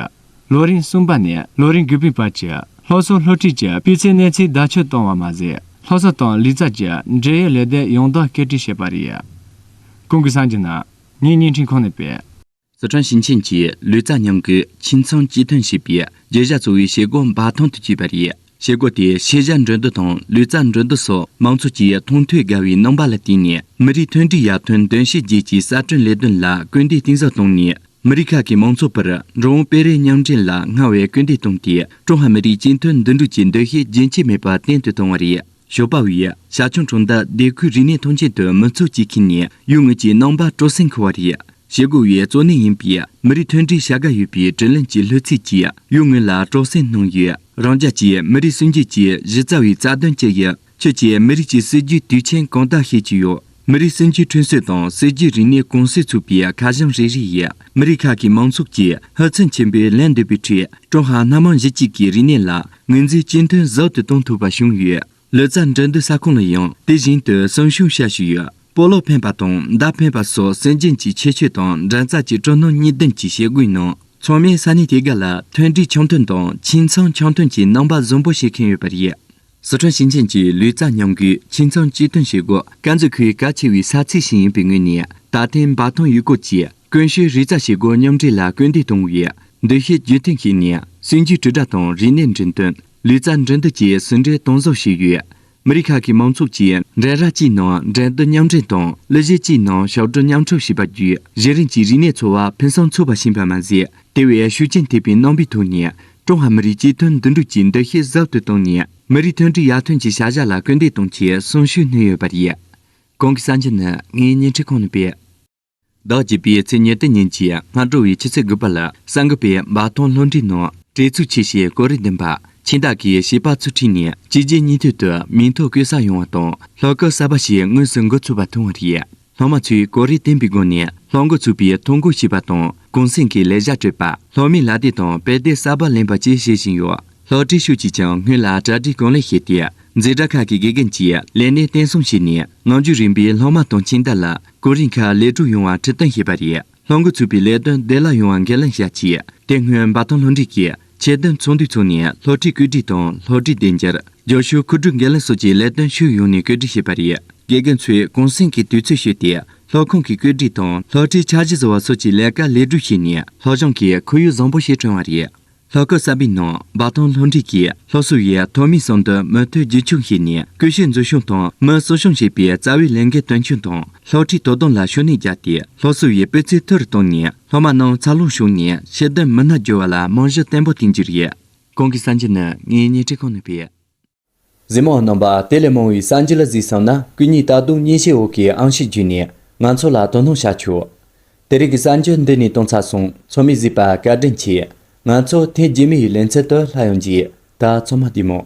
ལོ་རིམ་གསུམ་པ་ནས་ལོ་རིམ་དགུ་པའི་བར་གྱི་ལྷོ་སོག་ལྷོ་ཁྲིད་ཀྱི་སྤུས་ཚད་གནས་ཚུལ་བརྡ་ཆོད་བཏང་བ་མ་ཟད་ལྷོ་སོག་དང་ལི་ཙཱ་ཀྱི་འབྲེལ་ཡོད་ལས་སྟེགས་ཡོངས་བདག་སྐད་སྒྲིག་བྱས་པ་རེད། གོང་གི་སང་གི་ན་ནིང་བརྙན་འཕྲིན་ཁང་ནས་སྤེལ། སི་ཁྲོན་ཞིང་ཆེན་གྱིས་ལུས་རྩལ་ཉམས་གུད་ཁྱིམ་ཚང་གཅིག་ཐོན་བྱེད་པའི་རྒྱུ་གཞི་གཙོ་བོའི་བྱེད་སྒོ་འབའ་ཐང་དུ་བསྐྱོད་པ་རེད། བྱེད་སྒོ་དེས་ཤེས་བྱ་འགྲན་བསྡུར་དང་ལུས་རྩལ་འགྲན་བསྡུར་སོགས་མང་ཚོགས་ཀྱི་མཐོང་ཐོས་དགའ་བའི་རྣམ་པ་ལ་བརྟེན་ནས་མི་རིགས་མཐུན་སྒྲིལ་ཡར་ཐོན་འདུ་ཤེས་བརྒྱད་ཀྱི་གསར་སྐྲུན་ལས་དོན་ལ་སྐུལ་འདེད་གཏིང་ཟབ་བཏང་ནས་མི་རིགས་ཁག་གི་མང་ཚོགས་བར་འགྲོ་འོང་སྤེལ་རེས་མཉམ་འདྲེས་ལ་སྔར་བས་སྐུལ་འདེད་བཏང་སྟེ་ཀྲུང་ཧྭ་མི་རིགས་གཅིག་མཐུན་འདུས་གྲུབ་ཀྱི་འདུ་ཤེས་རྒྱུན་ཆད་མེད་པར་བརྟན་དུ་བཏང་བ་རེད། ཞོ་པ་བའི་ཞར་བྱུང་གྲོང་རྡལ་སྡེ་ཁུལ་རིག་གནས་ཐོན་སྐྱེད་དུ་མི་ཚོགས་ཀྱིས་ཁེངས་ནས་ཡུལ་དངོས་ཀྱི་སྣང་བ་སྤྲོ་སེམས་འཁོལ་བ་རེད། ཞེ་དགུ་བའི་གཙོ་གནད་ཡིན་པའི་མི་རིགས་མཐུན་སྒྲིལ་བྱ་དགའ་ཡོད་པའི་དྲིན་ལན་གྱི་ལྷུ་ཚིགས་ཀྱིས་ཡུལ་དངོས་ལ་སྤྲོ་སེམས་སྣང་ཡོད། རང་རྒྱལ་གྱི་མི་རིགས་སྲོལ་འབྱེད་ཀྱི་གཞི་རྩ་བའི་རྩ་དོན་ཅི་ཡིན་ཁྱོད་ཀྱིས་མི་རིགས་ཀྱི་སྲིད་ཇུས་དུས་ཆེན་གང་དག་ཤེས་ཀྱི་ཡོད། མི་རིགས་སེམས་རྒྱུད་ཁྲོད་སྲིད་དང་སྲིད་ཀྱི་རིག་གནས་ཀུང་སི་ཚུགས་པའི་ཁ་བྱང་རེ་རེ་ཡིས་མི་རིགས་ཁག་གི་མང་ཚོགས་ཀྱིས་ཧུར་བརྩོན་ཆེན་པོས་ལེན་འདོད་པའི་ཁྲོད་ཀྲུང་ཧྭ་སྣ་མང་གཞི་གཅིག་གི་རིག་གནས་ལ་ངོས་འཛིན་གཅིག་མཐུན་ཟབ་ཏུ་གཏོང་ཐུབ་པ་བྱུང་ཡོད། ལོ་ཙཱ་འགྲན་བསྡུར་ས་ཁོངས་ལ་ཡང་དེ་བཞིན་དུ་གསོན་ཤུགས་ཤ་ཞུགས་ཡོད། སྤོ་ལོ་འཕེན་པ་དང་མདའ་འཕེན་པ་སོགས་སྲོལ་རྒྱུན་གྱི་ཁྱད་ཆོས་དང་འགྲན་རྩ་གཅིག་ཀྲུང་ནང་གཉིས་ལྡན་གྱི་བྱེད་སྒོའི་ནང་ཚང་མས་ས་གནས་དེ་ག་ལ་མཐུན་སྒྲིལ་འཆམ་མཐུན་དང་ཁྱིམ་ཚང་འཆམ་མཐུན་གྱི་རྣམ་པ་བཟང་པོ་བྱེད་མཁན་ཡོད་པ་རེད། ཟི་ཁྲོན་ཞིང་ཆེན་གྱི་ལུས་རྩལ་མཉམ་འགུལ་ཁྱིམ་ཚང་གཅིག་སྟོན་བྱེད་སྒོ། དཀར་མཛེས་ཁུལ་གལ་ཆེ་བའི་ས་ཚིགས་ཤིག་ཡིན་པའི་ངོས་ནས་ད་ཐེངས་འབའ་ཐང་ཡུལ་སྐོར་གྱིས་ཀུན་གཞིའི་རིག་རྩལ་བྱེད་སྒོ་མཉམ་འདྲེས་ལ་སྐུལ་འདེད་གཏོང་བའི་འདུ་ཤེས་རྒྱུན་ཐིང་ཞིག་ནས་སྲིད་ཇུས་དྲིལ་བསྒྲགས་དང་རིག་གནས་འགྲེམས་སྟོན། ལུས་རྩལ་འགྲན་བསྡུར་གྱི་ཟིན་བྲིས་གཏོང་བཟོ་བྱས་ཡོད། མི་རིགས་ཁག་གི་མང་ཚོགས་ཀྱིས་འགྲན་ར་གཅིག་ནང་འགྲན་བསྡུར་མཉམ་འགྲན་དང་གླུ་གཞས་གཅིག་ནང་ཞབས་བྲོ་མཉམ་འཁྲབ་བྱས་པ་བརྒྱུད་གཞན་རིམ་གྱི་རིག་གནས་འཚོ་བ་ཕུན་སུམ་ཚོགས་པ་བྱིན་པ་མ་ཟད་དེ་བས་ཤུགས་རྐྱེན་ཐེབས་པའི་རྣམ་པའི་ཐོག་ནས་ཀྲུང་ཧྭ་མི་རིགས་གཅིག་མཐུན་འདུས་གྲུབ་ཀྱི་འདུ་ཤེས་ཟབ་ཏུ་བཏང་ནས་མི་རིགས་མཐུན་སྒྲིལ་ཡར་ཐོན་གྱི་བྱ་གཞག་ལ་སྐུལ་འདེད་གཏོང་ཆེད་གསོན་ཤུགས་སྣོན་ཡོད་པ་རེད། གོང་གི་གསར་འགྱུར་ནི་ངའི་བརྙན་འཕྲིན་ཁང་ནས་སྤེལ། ཟླ་བརྒྱད་པའི་ཚེས་ཉེར་བདུན་ཉིན་གྱི་སྔ་དྲོ་བའི་ཕྱི་ཚེས་དགུ་པ་ལ་གསར་འགོད་པས་འབའ་ཐང་ལྷོ་འབྲིང་ནང་བྲེལ་འཚུབ་ཆེ་ཞེས་གོ་རེ་འདོན་པ་ཁྱིམ་བདག་གིས་བྱིས་པ་ཚུར་ཁྲིད་ནས་གཅིག་རྗེས་གཉིས་མཐུད་དུ་མིང་ཐོ་བཀོད་ས་ཡོང་བ་དང་ལྷོ་ཁ་གསར་པ་ཞིག་དངོས་སུ་འགོ་ཚུགས་པ་མཐོང་བ་རེད། སློབ་མ་ཚོས་གོ་རེ་བསྟན་པའི་སྒོ་ནས་སློབ་མགོ་ཚུགས་པའི་ཐོ་འགོད་བྱས་པ་དང་གུང་སེང་གི་ལས་བྱ་སྤྲོད་པ་སློབ་མའི་ལག་དེབ་དང་དཔེ་དེབ་གསར་པ་ལེན་པ་བཅས་བྱེད་བཞིན་ཡོད། སློབ་ཁྲིད་ཤུགས་ཀྱིས་ཀྱང་སྔོན་ལ་གྲ་སྒྲིག་གང་ལེགས་བྱས་ཏེ་འཛིན་གྲྭ་ཁག་གི་དགེ་རྒན་གྱིས་ལས་གནས་བརྟན་གསུམ་བྱས་ནས་ནང་རྒྱུད་རིམ་པའི་སློབ་མ་དང་ཁྱིམ་བདག་ལ་གོ་རེ་འཁར་ལེགས་གྲུབ་ཡོང་བར་ཁྲིད་སྟོན་བྱས་པ་རེད། ལྷུན་གྲུབ་ཚུགས་པའི་ལས་དོན་བདེ་བླག་ཡོང་བ་འགན་ལེན་བྱ་ཆེད་དེ་སྔོན་འབའ་ཐང་ལྷོ་འབྲིང་གིས་ཆེད་དོན་ཚོགས་འདུ་ཚོགས་ནས་ལྷོ་ཁྲིད་བཀོད་སྒྲིག་དང་ལྷོ་ཁྲིད་བདེ་འཇགས་ཇོ་ཤུག་འཁུར་སྒྲུབ་འགན་ལེན་སོགས་ཀྱི་ལས་དོན་ཕྱོགས་ཡོངས་ནས་བཀོད་སྒྲིག་བྱས་པ་རེད། དགེ་རྒན་ཚོས་གུང་སེང་གི་དུས་ཚོད་ཤོད་དེ་ལྷོ་ཁང་གི་བཀོད་སྒྲིག་དང་ལྷོ་ཁྲིད་འཆར་གཞི་བཟོ་བ་སོགས་ཀྱི་ལས་ཀ་ལེགས་སྒྲུབ་བྱས་ནས་ལྷོ་བྱང་གི་ཁོར་ཡུག་བཟང་པོ་ཞིག་བསྐྲུན་བ་རེད། ལྷོ་ཁ་གསར་པའི་ནང་འབའ་ཐང་ལྷོ་འབྲིང་གིས་ལྷོ་སོ་ཡའི་ཐོག་མའི་ཟམ་དུ་མུ་མཐུད་རྒྱུན་འཁྱོངས་བྱས་ནས་ཀུ་ཤུ་འཛུགས་སྐྱོང་དང་མི་གསོ་སྐྱོང་བྱེད་པའི་རྩ་བའི་ལས་འགན་དོན་འཁྱོལ་དང་ལྷོ་ཁྲིད་དོ་དམ་ལ་ཤུགས་སྣོན་བརྒྱབ་སྟེ་ལྷོ་སོ་ཡའི་སྤུས་ཚད་མཐོ་རུ་བཏང་ནས་ལྷོ་མ་རྣམས་འཚར་ལོངས་བྱུང་ནས་ཤེས་ལྡན་མི་སྣ་བསྒྱུར་བ་ལ་རྨང་གཞི་བརྟན་པོ་བཏིང་རྒྱུ་རེད། ཁོང་གིས་བསམ་རྒྱུ་ནི་ངའི་སྣེ་ཁྲིད་ཁང་ནས་སྤེལ། གཟིགས་མོའང་རྣམ་པ་དེ་ལས་མང་བའི་གསར་འགྱུར་ལ་གཟིགས་བསམ་ན་སྐུ་ཉིད་ད་དུང་མཉེས་གཤིས་འོག་གི་ཨང་ཞིག་བརྒྱུད་ནས་ང་ཚོ་ལ་དོ་སྣང་བྱ་ཆོག། དེ་རིགས་ཀྱི་གསར་འགྱུར་འདི་ནས་སྟོང་ཚ་སོང་ཚོར་མི་གཟིགས་པ་བཀའ་དྲིན་ཆེ། ང་ཚོ་ཐེངས་རྗེས་མའི་ཡི་ལན་ཚད་དུ་ལྷག་ཡོང་རྗེས་ད་ཚོད་མ་བལྟས་མོད།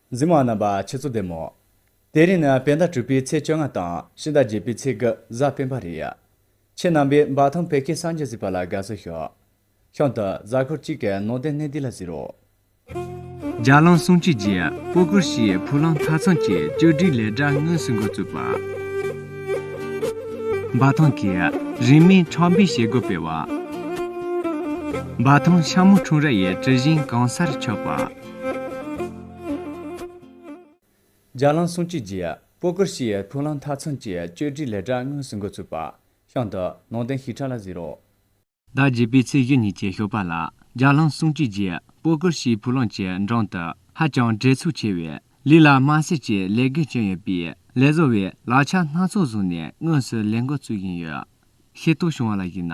འཛིན་མ་རྣམ་པ་ཆུ་ཚོད་བདེ་མོ། དེ་རིང་ནི་བེ་ཟླ་དྲུག་པའི་ཚེས་བཅོ་ལྔ་དང་ཕྱི་ཟླ་བརྒྱད་པའི་ཚེས་དགུ་གཟའ་སྤེན་པ་རེད། ཁྱེད་རྣམ་པས་འབའ་ཐང་བོད་སྐད་སངས་རྒྱས་གཟིགས་པ་ལ་དགའ་བསུ་ཞུ། ཤང་དུ་གཟའ་འཁོར་གཅིག་གི་ནང་བསྟན་གནས་འདི་ལ་གཟིགས་རོགས། རྒྱ་གླང་གསུམ་གཅིག་རྗེས་སྤོ་བཀུར་ཞེས་བུ་གླང་མཐའ་ཚང་གི་བཅོས་སྒྲིག་ལས་གྲྭ་དངོས་སུ་འགོ་བཙུགས་པ། འབའ་ཐང་གི་རིས་མེད་ཁྲག་འབེབས་བྱེད་སྒོ་སྤེལ་བ། འབའ་ཐང་ཤ་མོ་འཁྲུངས་ར་ཡི་གྲི་བཞེངས་གང་སར་ཕྱོགས་པ། ལྗགས་ལང་སྲུང་བྱེད་ཀྱི། པོ་ཀུར་ཤི་ཡའི་ཕུག་ལང་མཐའ་མཚོན་གྱི་བཅོས་སྒྲིག་ལས་གྲྭ་དངོས་སུ་འགོ་ཚུགས་པ། ཤང་དུ། ནང་བསྟན་ཞིབ་ཕྲ་ལ་གཟིགས་རོགས། ཟླ་བརྒྱད་པའི་ཚེས་བཞི་ཉིན་གྱི་ཞོགས་པ་ལ་ལྗགས་ལང་སྲུང་བྱེད་ཀྱི། པོ་ཀུར་ཤིའི་ཕུག་ལང་གི་འགྲམ་དུ། ཧ་ཅང་བྲེལ་འཚུབ་ཆེ་བའི། ལི་ལ་དམར་སེར་གྱི་ལས་བགོས་བྱས་ཡོད་པས། ལས་བཟོ་བས་ལག་ཆ་སྣ་ཚོགས་བཟུང་ནས་དངོས་སུ་ལས་འགོ་བཙུགས་ཡིན་ཡོད། ཤེས་རྟོགས་བྱུང་བ་ལ་གཞིགས་ན།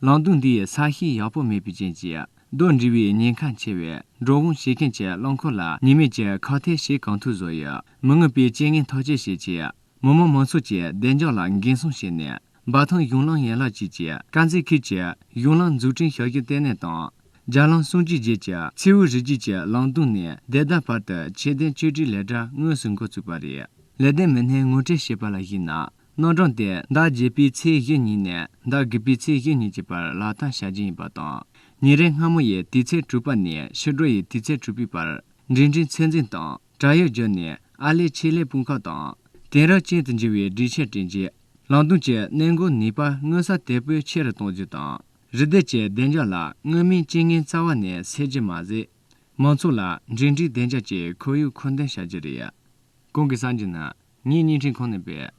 ལང་ཏུང་འདི་ཡི་ས་གཤིས་ཡག་པོ་མེད་པའི་རྐྱེན་གྱིས་རྡོ་འདྲིལ་བའི་ཉེན་ཁ་ཆེ་བས་འགྲོ་འོང་བྱེད་མཁན་གྱི་རླངས་འཁོར་ལ་ཉེན་མེད་ཀྱི་ཁག་ཐེག་བྱེད་གང་ཐུབ་བཟོ་ཡོད། མི་ངན་པའི་རྐྱེན་ངན་ཐག་གཅོད་བྱེད་ཆེད། མི་དམངས་མང་ཚོགས་ཀྱི་བདེ་འཇགས་ལ་འགན་སྲུང་བྱས་ནས། འབའ་ཐང་གཞུང་ལམ་ཡན་ལག་བཅས་ཀྱི་དཀར་མཛེས་ཁུལ་གྱི་གཞུང་ལམ་འཛུགས་སྐྲུན་བྱ་རྒྱུ་གཏན་ནས་དང། རྒྱ་ལམ་སྲུང་བཅད་རྗེས་ཀྱི་མཚེའུ་རི་རྒྱུད་ཀྱི་ལང་ཏུང་ནས་དེ་ལྟར་བར་དུ་ཆེད་དོན་བཅོས་སྒྲིག་ལས་གྲྭ་དངོས་སུ་འགོ་བཙུགས་པ་རེད། ལས་དོན་མི་སྣས་ངོ་སྤྲོད་བྱས་པ་ལ་གཞིགས་ན། སྣོད་དྲངས་ཏེ་ཟླ་བརྒྱད་པའི་ཚེས་བཞི་ཉིན་ནས་ཟླ་དགུ་པའི་ཚེས་བཞི་ཉིན་གྱི་བར་ལག་བསྟར་བྱ་རྒྱུ་ཡིན་པ་དང། ཉིན་རེའི་སྔ་མོ་ཡི་དུས་ཚེས་དྲུག་པ་ནས་ཕྱི་དྲོ་ཡི་དུས་ཚེས་དྲུག་པའི་བར་འབྲིང་འབྲིང་ཚོད་འཛིན་དང་བྲག་ཡོལ་བརྒྱུད་ནས་ཨར་ལས་ཆེད་ལས་དཔུང་ཁག་དང། དེང་རབས་ཅན་དུ་འགྱུར་བའི་སྒྲིག་ཆས་བསྐྲུན་རྗེས་རླངས་འཁོར་གྱི་གནས་སྒོ་ནུས་པ་དངོས་ས་དེད་པོས་ཆེ་རུ་གཏོང་རྒྱུ་དང། རི་སྡེ་བཅས་བདེ་འཇགས་ལ་མངོན་མིན་རྐྱེན་ངན་རྩ་བ་ནས་སེལ་རྒྱུ་མ་ཟད། མང་ཚོགས་ལ་འབྲིང་འབྲིང་བདེ་འཇགས་ཀྱི་ཁོར་ཡུག་མཁོ་འདོན་བྱ་རྒྱུ་རེད། གོང་གི་གསར་འགྱུར་ནང། ངས་བརྙན་འཕྲིན་ཁང་ནས་སྤེལ།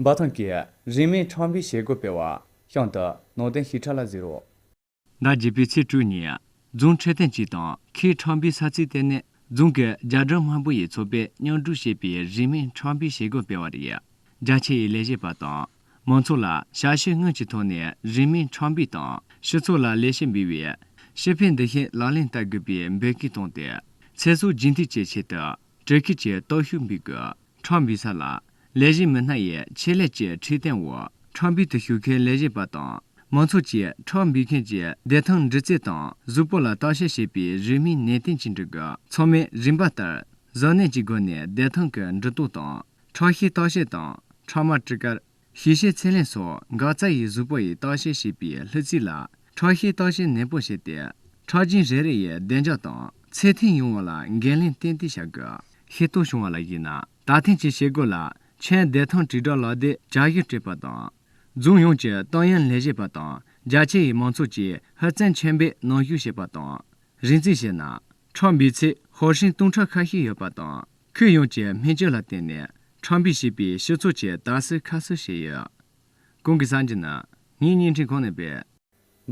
འབའ་ཐང་གིས་རིན་མེད་ཁྲམ་བུའི་བྱེད་སྒོ་སྤེལ་བ། ཤང་དུ་ནང་བསྟན་ཞིབ་ཕྲ་ལ་གཟིགས་རོགས། ཟླ་བརྒྱད་པའི་ཚེས་དྲུག་ཉིན། རྫོང་འཕྲོད་བསྟེན་ཅུས་དང་ཁིའི་ཁྲམ་བུའི་ས་ཚིགས་ལྟེ་གནས་རྫོང་གི་རྒྱ་གྲམ་དམར་པོ་ཡི་ཚོགས་པས་མཉམ་སྒྲུབ་བྱས་པའི་རིན་མེད་ཁྲམ་བུའི་བྱེད་སྒོ་སྤེལ་བ་རེད། རྒྱ་ཆེ་ཡི་ལས་བྱེད་པ་དང་མང་ཚོགས་ལ་ཞབས་ཕྱི་དངོས་ཀྱི་ཐོག་ནས་རིན་མེད་ཁྲམ་བུའི་དང་སྤྱི་ཚོགས་ལ་ལས་བྱེད་འབུལ་བའི་ཞི་བའི་འདུ་ཤེས་ལག་ལེན་བསྟར་དགོས་པའི་འབོད་སྐུལ་བཏང་སྟེ་ཚེ་སྲོག་རྒྱུན་མཐུད་བཅས་བྱས་ཏེ། ཀྲེ་ཁི་བཅས་སྟོབས་ཤུགས་འབུལ་དགོས། ཁྲང་བི་ས་ལ། ལས་བྱེད་མི་སྣ་ཡི་ཆེད་ལས་བཅས་ཁྲིད་སྟེང་འོག་ཁྲང་བི་དུ་ཞུགས་མཁན་ལས་བྱེད་པ་དང་མང་ཚོགས་ཀྱིས་ཁྲང་བི་ཁན་གྱི་བདེ་ཐང་འདྲི་རྩད་དང་གཟུགས་པོ་ལ་བརྟག་དཔྱད་བྱེད་པའི་རིན་མེད་ནད་རྟེན་ཅིང་འབྲེལ་དགོས་ཚང་མས་རིམ་པ་ལྟར་གཟབ་ནན་གྱི་སྒོ་ནས་བདེ་ཐང་གི་འདྲི་རྟོག་དང་ཁྲག་ཤེད་བརྟག་དཔྱད་དང་ཁྲག་དམར་གྲི་ཀར། ཞི་ཤའི་ཚད་ལེན་སོགས་འགག་རྩ་ཡི་གཟུགས་པོ་ཡི་རྟགས་བཤེར་བྱེད་པའི་ལྷུ་ཚིགས་ལ་ཁྲག་ཤའི་རྟགས་བཤེར་ནན་པོ་བྱས་ཏེ་ཁྲག་རྒྱུན་རེ་རེ་ཡི་བདེ་འཇགས་དང་ཚད་ཐིག་ཡོང་བ་ལ་འགན་ལེན་ཏན་ཏིག་བྱ་དགོས། ཤེས་རྟོགས་བྱུང་བ་ལ་གཞིགས་ན་ད་ཐེངས་ཀྱི་བྱེད་སྒོ་ལ་ཆེན་བདེ་ཐང་དྲིལ་བསྒྲགས་ལག་དེབ་བྱ་གཞག་སྤྲད་པ་དང། རྫོང་ཡོངས་ཀྱི་ཏང་ཡོན་ལས་བྱེད་པ་དང་རྒྱ་ཆེ་ཡི་མང་ཚོགས་ཀྱིས་ཧུར་བརྩོན་ཆེན་པོས་ནང་བཤུག་བྱས་པ་དང། རིགས་འཛིན་བྱས་ན་ཁྲག་འབུས་ཚད་ཧོར་ཧྲེང་སྟོང་ཕྲག་ཁ་ཤས་ཡོད་པ་དང། ཁུལ་ཡོངས་ཀྱི་སྨན་བཅོས་ལ་བརྟེན་ནས་ཁྲག་འབུས་བྱེད་པའི་ཞུ་ཚོགས་ཀྱི་དག་སེལ་ཁ་གསོ་བྱས་ཡོད། གོང་གི་གསར་འགྱུར་ནང་ངས་བརྙན་འཕྲིན་གོང་ནས་སྤེལ།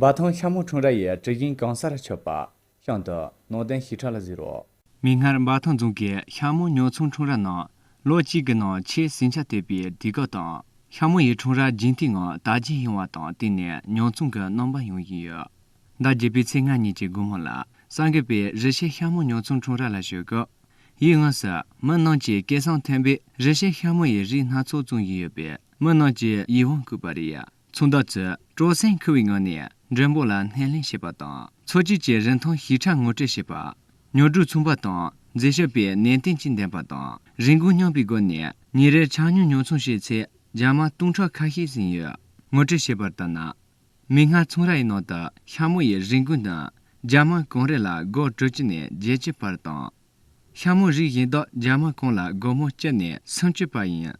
འབའ་ཐང་ཤ་མོ་ཁྲོམ་ར་ཡི་གྲི་གཞོན་གང་སར་ཆུ་བར། གཤམ་དུ། ནང་བསྟན་ཞི་ཁྲ་ལ་གཟིགས་རོགས། མིག་སྔར་འབའ་ཐང་རྫོང་གི་ཤ་མོ་ཉོ་ཚོང་ཁྲོམ་ར་ནང་ལོ་གཅིག་གི་ནང་ཆེས་ཟིང་ཆ་དོད་པའི་དུས་སྐབས་དང། ཤ་མོ་ཡི་ཁྲོམ་ར་རྒྱུན་མཐུད་ངང་དར་རྒྱས་ཡོང་བ་དང་བསྟུན་ནས་ཉོ་ཚོང་གི་རྣམ་པ་ཡང་ཡིན་ཡོད། ཟླ་བརྒྱད་པའི་ཚེས་ལྔ་ཉིན་གྱི་དགོང་མོ་ལ་སངས་རྒྱས་པས་རི་ཤའི་ཤ་མོ་ཉོ་ཚོང་འཁྲུངས་ར་ལ་བཞུགས་སྐབས། ཡིད་དབང་སར་མི་རྣམས་ཀྱིས་སྐད་གསང་མཐོན་པོས་རི་ཤའི་ཤ་མོ་ཡི་རིགས་སྣ་ཚོགས་བཙོང་བཞིན་ཡོད་པས་མི་རྣམས་ཀྱིས་ཡིད་དབང་བཀུག་པ་རེད། ཚོང་བདག་ཚོས་སྤྲོ་སེམས་འཁོལ་བའི་ངང་ནས་མགྲོན་པོ་ལ་སྣེ་ལེན་བྱེད་པ་དང་འཚོ་བཅུད་ཀྱི་རིན་ཐང་ཞིབ་ཕྲ་ངོ་སྤྲོད་བྱེད་པ། ཉོ་སྒྲུབ་ཚོང་པ་དང་འཛད་ཞབས་པས་ནན་ཏན་གྱིས་འདེམས་པ་དང་རིན་གོང་སྙོམས་པའི་སྒོ་ནས་ཉིན་རེར་ཆང་སྙོལ་ཉོ་ཚོང་བྱས་ཚེ་རྒྱ་མ་སྟོང་ཕྲག་ཁ་ཤས་ཟིན་ཡོད། ངོ་སྤྲོད་བྱས་པར་ལྟར་ན། མིག་སྔར་ཚོང་ར་ཡི་ནང་དུ་ཤ་མོ་ཡི་རིགས་འགོས་ན་རྒྱ་དམག་གང་རེད་ལ་སྒོར་དྲུག་ཅུ་ནས་བརྒྱད་བཅུ་བར་དང། ཤ་མོ་རིགས་གཞན་དག་རྒྱ་དམག་གང་ལ་སྒོར་མོ་བཅུ་ནས་སུམ་ཅུ་བར་ཡིན།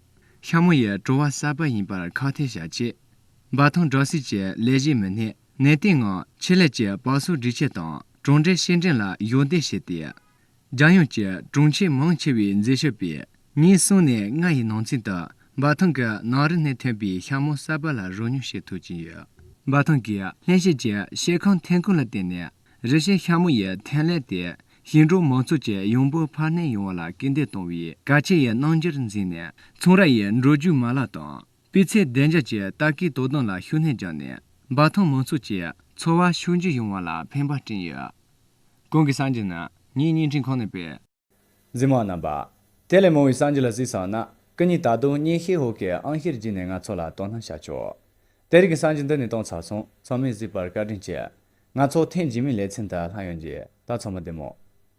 ཤ་མོ་ཡི་བྲོ་བ་གསར་པ་ཡིན་པར་ཁག་ཐེག་བྱ་ཆེད། འབའ་ཐང་སྦྲག་སྲིད་ཀྱི་ལས་བྱེད་མི་སྣས་ནན་ཏན་ངང་ཆེད་ལས་ཀྱི་བག་གསོ་སྒྲིག་ཆས་དང་གྲོང་སྦྲེལ་ཤེས་འགྲན་ལ་གཞོགས་འདེགས་བྱས་ཏེ། རྒྱལ་ཡོངས་ཀྱི་གྲོང་ཁྱེར་མང་ཆེ་བའི་མཛེས་ཤོས་པས་ཉིན་གསུམ་ནས་ལྔ་ཡི་ནང་ཚུན་དུ་འབའ་ཐང་གི་ནང་རི་སྣེ་ཐོན་པའི་ཤ་མོ་གསར་པ་ལ་རོལ་མྱོང་བྱེད་ཐུབ་ཀྱིན་ཡོད། འབའ་ཐང་གི་ལྷན་སྐྱེས་ཀྱི་ཤེལ་ཁང་ཐན་ཀོན་ལ་བརྟེན་ནས་རི་སྐྱེས་ཤ་མོ་ཡི་ཐན་ལས་དེ་ཞིང་འབྲོག་མང་ཚོགས་ཀྱི་ཡོང་འབབ་འཕར་སྣོན་ཡོང་བ་ལ་སྐུལ་འདེད་གཏོང་བའི་གལ་ཆེ་ཡི་རྣམ་འགྱུར་འཛིན་ནས་ཚོང་ར་ཡི་འགྲོ་རྒྱུག་མ་ལག་དང། སྤུས་ཚད་བདེ་འཇགས་ཀྱི་ལྟ་སྐུལ་དོ་དམ་ལ་ཤུགས་སྣོན་བརྒྱབ་ནས་འབའ་ཐང་མང་ཚོགས་ཀྱི་འཚོ་བར་ཕྱུག་འགྱུར་ཡོང་བ་ལ་ཕན་པ་བསྐྲུན་ཡོད། གོང་གི་སངས་རྒྱས་ནི་ངའི་བརྙན་འཕྲིན་ཁང་ནས་སྤེལ། འཛིན་མ་རྣམ་པ། དེ་ལས་མང་བའི་སངས་རྒྱས་ལ་གཟིགས་སོང་ན་སྐུ་ཉིད་ད་དུང་བརྙན་ཤེལ་འོག་གི་ཨང་ཤེལ་བརྒྱུད་ནས་ང་ཚོ་ལ་དོ་སྣང་བྱ་ཆོག་དེ་རིགས་ཀྱི་སངས་རྒྱས་འདི་ནས་གཏོང་ཚར་སོང་ཚང་མས་གཟིགས་པར་བཀའ་དྲིན་ཆེ། ང་ཚོ་ཐེངས་རྗེས་མའི་ལེ་ཚན་དུ་ལྷང་ཡོང་རྗེས་ད་ཚང་མ་བདེ་མོ།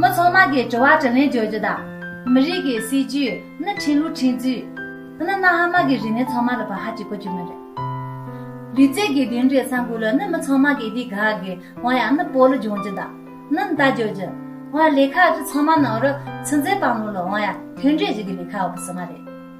མི་ཚང་མ་གིས་དྲི་བ་དྲི་ལན་བརྗོད་རྒྱུ་དང། མི་རིགས་ཀྱི་སྲིད་ཇུས་ནི་ཁྲིན་ལུགས་ཁྲིན་ཚུས། ནི་གནའ་ཧ་མ་གི་རིག་གནས་ཚང་མ་ལ་བར་ཧ་ཅིག་གོ་རྒྱུ་མི་རེད། རི་རྩེ་གི་དེ་འདྲའི་ས་འགུལ་ལ་ནི་མི་ཚང་མ་གིས་དེ་ག་གི་བ་ཡང་ནི་པོ་ལུ་འབྱུང་རྒྱུ་དང། ནི་མདའ་བརྗོད་རྒྱུ། བ་ལས་ཁ་ཅིག་ཚང་མ་ནང་རུ་ཚིག་མཛེས་པང་ལུང་ལ་བ་ཡང་དེ་འདྲའི་བཞི་གི་ལས་ཁ་བ་པོ་ཟི་མ་རེད།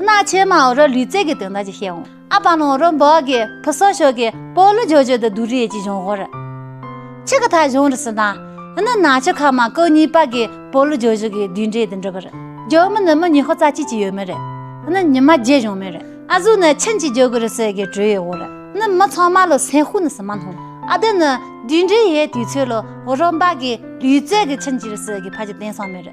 སྣ་ཆེ་མའོ་རོ་ལུས་རྩལ་གྱི་དོན་དག་ཅིག་བཤད་འོང། ཨ་པ་ནོ་རོ་འབོག་གི་ཕུ་སོ་ཤོ་གི་པོ་ལུ་ཇོ་ཇོ་དུ་དུ་རི་ཅི་བྱུང་ཧོ་རི། ཆི་གི་ཐ་བྱུང་རི་སི་ན། ནི་ན་ཆི་ཁ་མ་ཀོ་གཉིས་པ་གི་པོ་ལུ་ཇོ་ཇོ་གི་དུས་འདྲེ་དུ་འདྲི་བ་རི། ཇོ་མི་ནི་མི་ཉི་ཧོ་ཙ་ཅི་ཅི་ཡོད་མི་རི། ནི་ཉི་མ་བརྒྱད་བྱུང་མི་རི། ཨ་ཟུ་ནི་ཆིན་ཅི་ཇོ་གི་རི་སི་གི་གྲུ་ཡོད་ཧོ་རི། ནི་མི་ཚང་མ་ལོ་སེན་ཧུ་ནི་སི་མ་ནྷོ། ཨ་དི་ནི་དུས་འདྲེ་ཡའི་དུས་ཚོད་ལོ་རོ་འབག་གི་ལུས་རྩལ་གི་ཆིན་ཅི་རི་སི་གི་ཕ་ཅི་དེང་སང་མི་རི།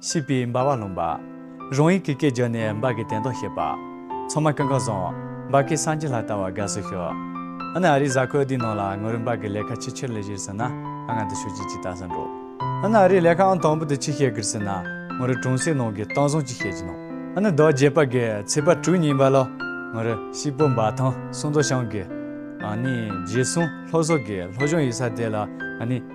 ཤིས་པའི་འབར་བ་ལྷུང། རང་ཡིད་ཀྱི་སྐད་བརྗོད་ནས་འབག་གི་དན་ཏོག་བཤད། ཚང་མ་ཀང་ཀང་བཟང། འབག་གི་སངས་རྒྱས་ལྷ་ལྟ་བ་དགའ་བསུ་ཞུ། ཨ་ནི་ཨ་རིའི་གཟའ་འཁོད་འདིའི་ནང་ལ་ངོ་རུ་འབག་གི་ལས་ཁ་ཅི་ཆེར་ལས་བཞིར་ཟིན་ན་ཨ་ང་འདི་ཤོད་ཀྱི་ཅི་ལྟ་བསམ་འགྲོ། ཨ་ནི་ཨ་རིའི་ལས་ཁ་ཨང་དང་པོ་འདི་ཅི་བཤད་གིར་ཟིན་ན་ངོ་རུ་གྲོང་གསེབ་ནང་གི་ཏང་བཟང་ཅི་བཤད་ཀྱི་ནང་ཨ་ནི་རྡོ་རྗེ་འབག་གི་ཚེས་པ་དྲུག་ཉིན་འབག་ལོ་ངོ་རུ་ཤིས་པོ་འབག་ཐང་སུང་མདོ་ཤང་གི་ཨ་ནི་རྗེ་བསུང་ལྷོ་བཟོ་གི་ལྷོ་གཞུང་ཡིག་ས་དེ་ལ་ཨ་ནི།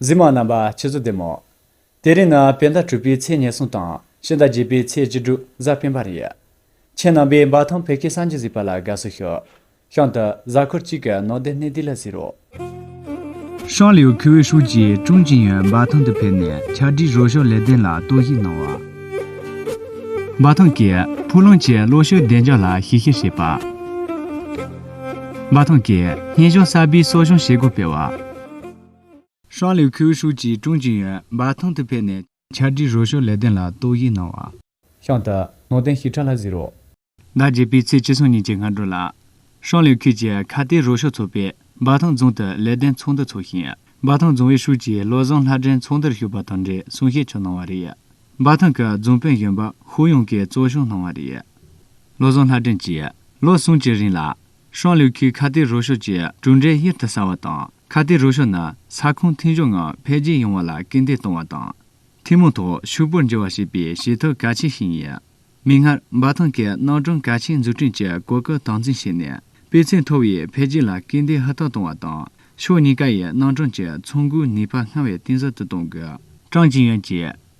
འཛིན་མ་རྣམ་པ་ཆུ་ཚོད་བདུན་མོ། དེ་རིང་ནི་བེ་ཟླ་དྲུག་པའི་ཚེས་ཉེར་གསུམ་དང་ཕྱི་ཟླ་བརྒྱད་པའི་ཚེས་བཅུ་དྲུག་གཟའ་སྤེན་པ་རེད། ཁྱེད་རྣམ་པས་འབའ་ཐང་བོད་ཁའི་སངས་རྒྱས་གཟིགས་པ་ལ་དགའ་བསུ་ཞུ། ཤང་དུ་གཟའ་འཁོར་གཅིག་གི་ནོར་སྡེ་སྣེ་འདི་ལ་ཟེར་རོ། ཤང་ལིའུ་ཁི་ཝེ་ཧྲུའུ་ཅི་ཀྲུང་ཅིན་ཡོན་འབའ་ཐང་དུ་ཕེབས་ནས་ཆ་སྒྲིག་རོགས་སྐྱོར་ལས་དོན་ལ་གཏོར་བཤིག་གནང་བ། འབའ་ཐང་གི་ཕུག་ལུང་བཅས་གློག་ཤུགས་བདེ་འཇགས་ལ་ཞིབ་བཤེར་བྱས་པ། འབའ་ཐང་གིས་སྙན་གཞུང་གསར་པའི་གསོ་སྦྱོང་བྱེད་སྒོ་སྤེལ་བ། ཤང་ལིའུ་ཁི་ཝེ་ཧྲུའུ་ཅི་ཀྲུང་ཅིན་ཡོན་འབའ་ཐང་དུ་ཕེབས་ནས། ཕྱག་བྲིས་རོལ་ཤོག་ལེ་བདེན་ལ་རྟོག་ཞིབ་གནང་བ། ཤང་ཏི། ནོར་བསྟན་ཞི་ཁྲ་ལྷ་བཟི་རུ། ཟླ་བརྒྱད་པའི་ཚེས་བཅུ་སོང་ཉིན་གྱི་སྔ་དྲོ་ལ། ཧྲང་ལིའུ་ཁུལ་གྱི་ཁ་གཏད་རོལ་ཤོག་ཚོགས་པས་འབའ་ཐང་རྫོང་དུ་ལེ་བདེན་ཚོགས་འདུ་འཚོགས་ཤིང། འབའ་ཐང་རྫོང་ཨུའི་ཧྲུའུ་ཅི་བློ་བཟང་ལྷ་སྒྲོན་ཚོགས་འདུར་ཞུགས་པ་དང་འབྲེལ་གསུང་བཤད་ཆོག་གནང་བ་རེད། འབའ་ཐང་གི་རྫོང་དཔོན་གཞོན་པ་ཧུའུ་ཡུང་གིས་གཙོ་བཤུགས་གནང་བ་རེད། བློ་བཟང་ལྷ་སྒྲོན་གྱིས་ལོ་གསུམ་གྱི་རིང་ལ། ཧྲང་ལིའུ་ཁི་ཁ་གཏད་རོགས་ཕྱོགས་ཀྱི་གྲུབ་འབྲས་གཡུར་དུ་ཟ་བ་དང་ཁ་གཏད་རོགས་ཕྱོགས་ནི་ས་ཁོངས་མཐུན་སྦྱོར་ངང་འཕེལ་རྒྱས་ཡོང་བ་ལ་སྐུལ་འདེད་གཏོང་བ་དང། ཐུན་མོང་ཐོག་ཕྱུག་པོར་འགྱུར་བ་བྱེད་པའི་བྱེད་ཐབས་གལ་ཆེན་ཞིག་ཡིན། མིག་སྔར་འབའ་ཐང་གིས་རྣམ་གྲངས་གལ་ཆེན་འཛུགས་སྐྲུན་གྱི་གོ་སྐབས་དམ་འཛིན་བྱས་ནས་སྤུས་ཚད་མཐོ་བའི་འཕེལ་རྒྱས་ལ་སྐུལ་འདེད་ཧུར་ཐག་གཏོང་བ་དང་ཕྱོགས་གཉིས་ཀའི་རྣམ་གྲངས་ཀྱི་ཚོང་འགུགས་ནུས་པ་སྔར་བས་གཏིང་ཟབ་ཏུ་གཏོང་དགོས། ཀྲང་ཅིན་ཡོན་གྱིས།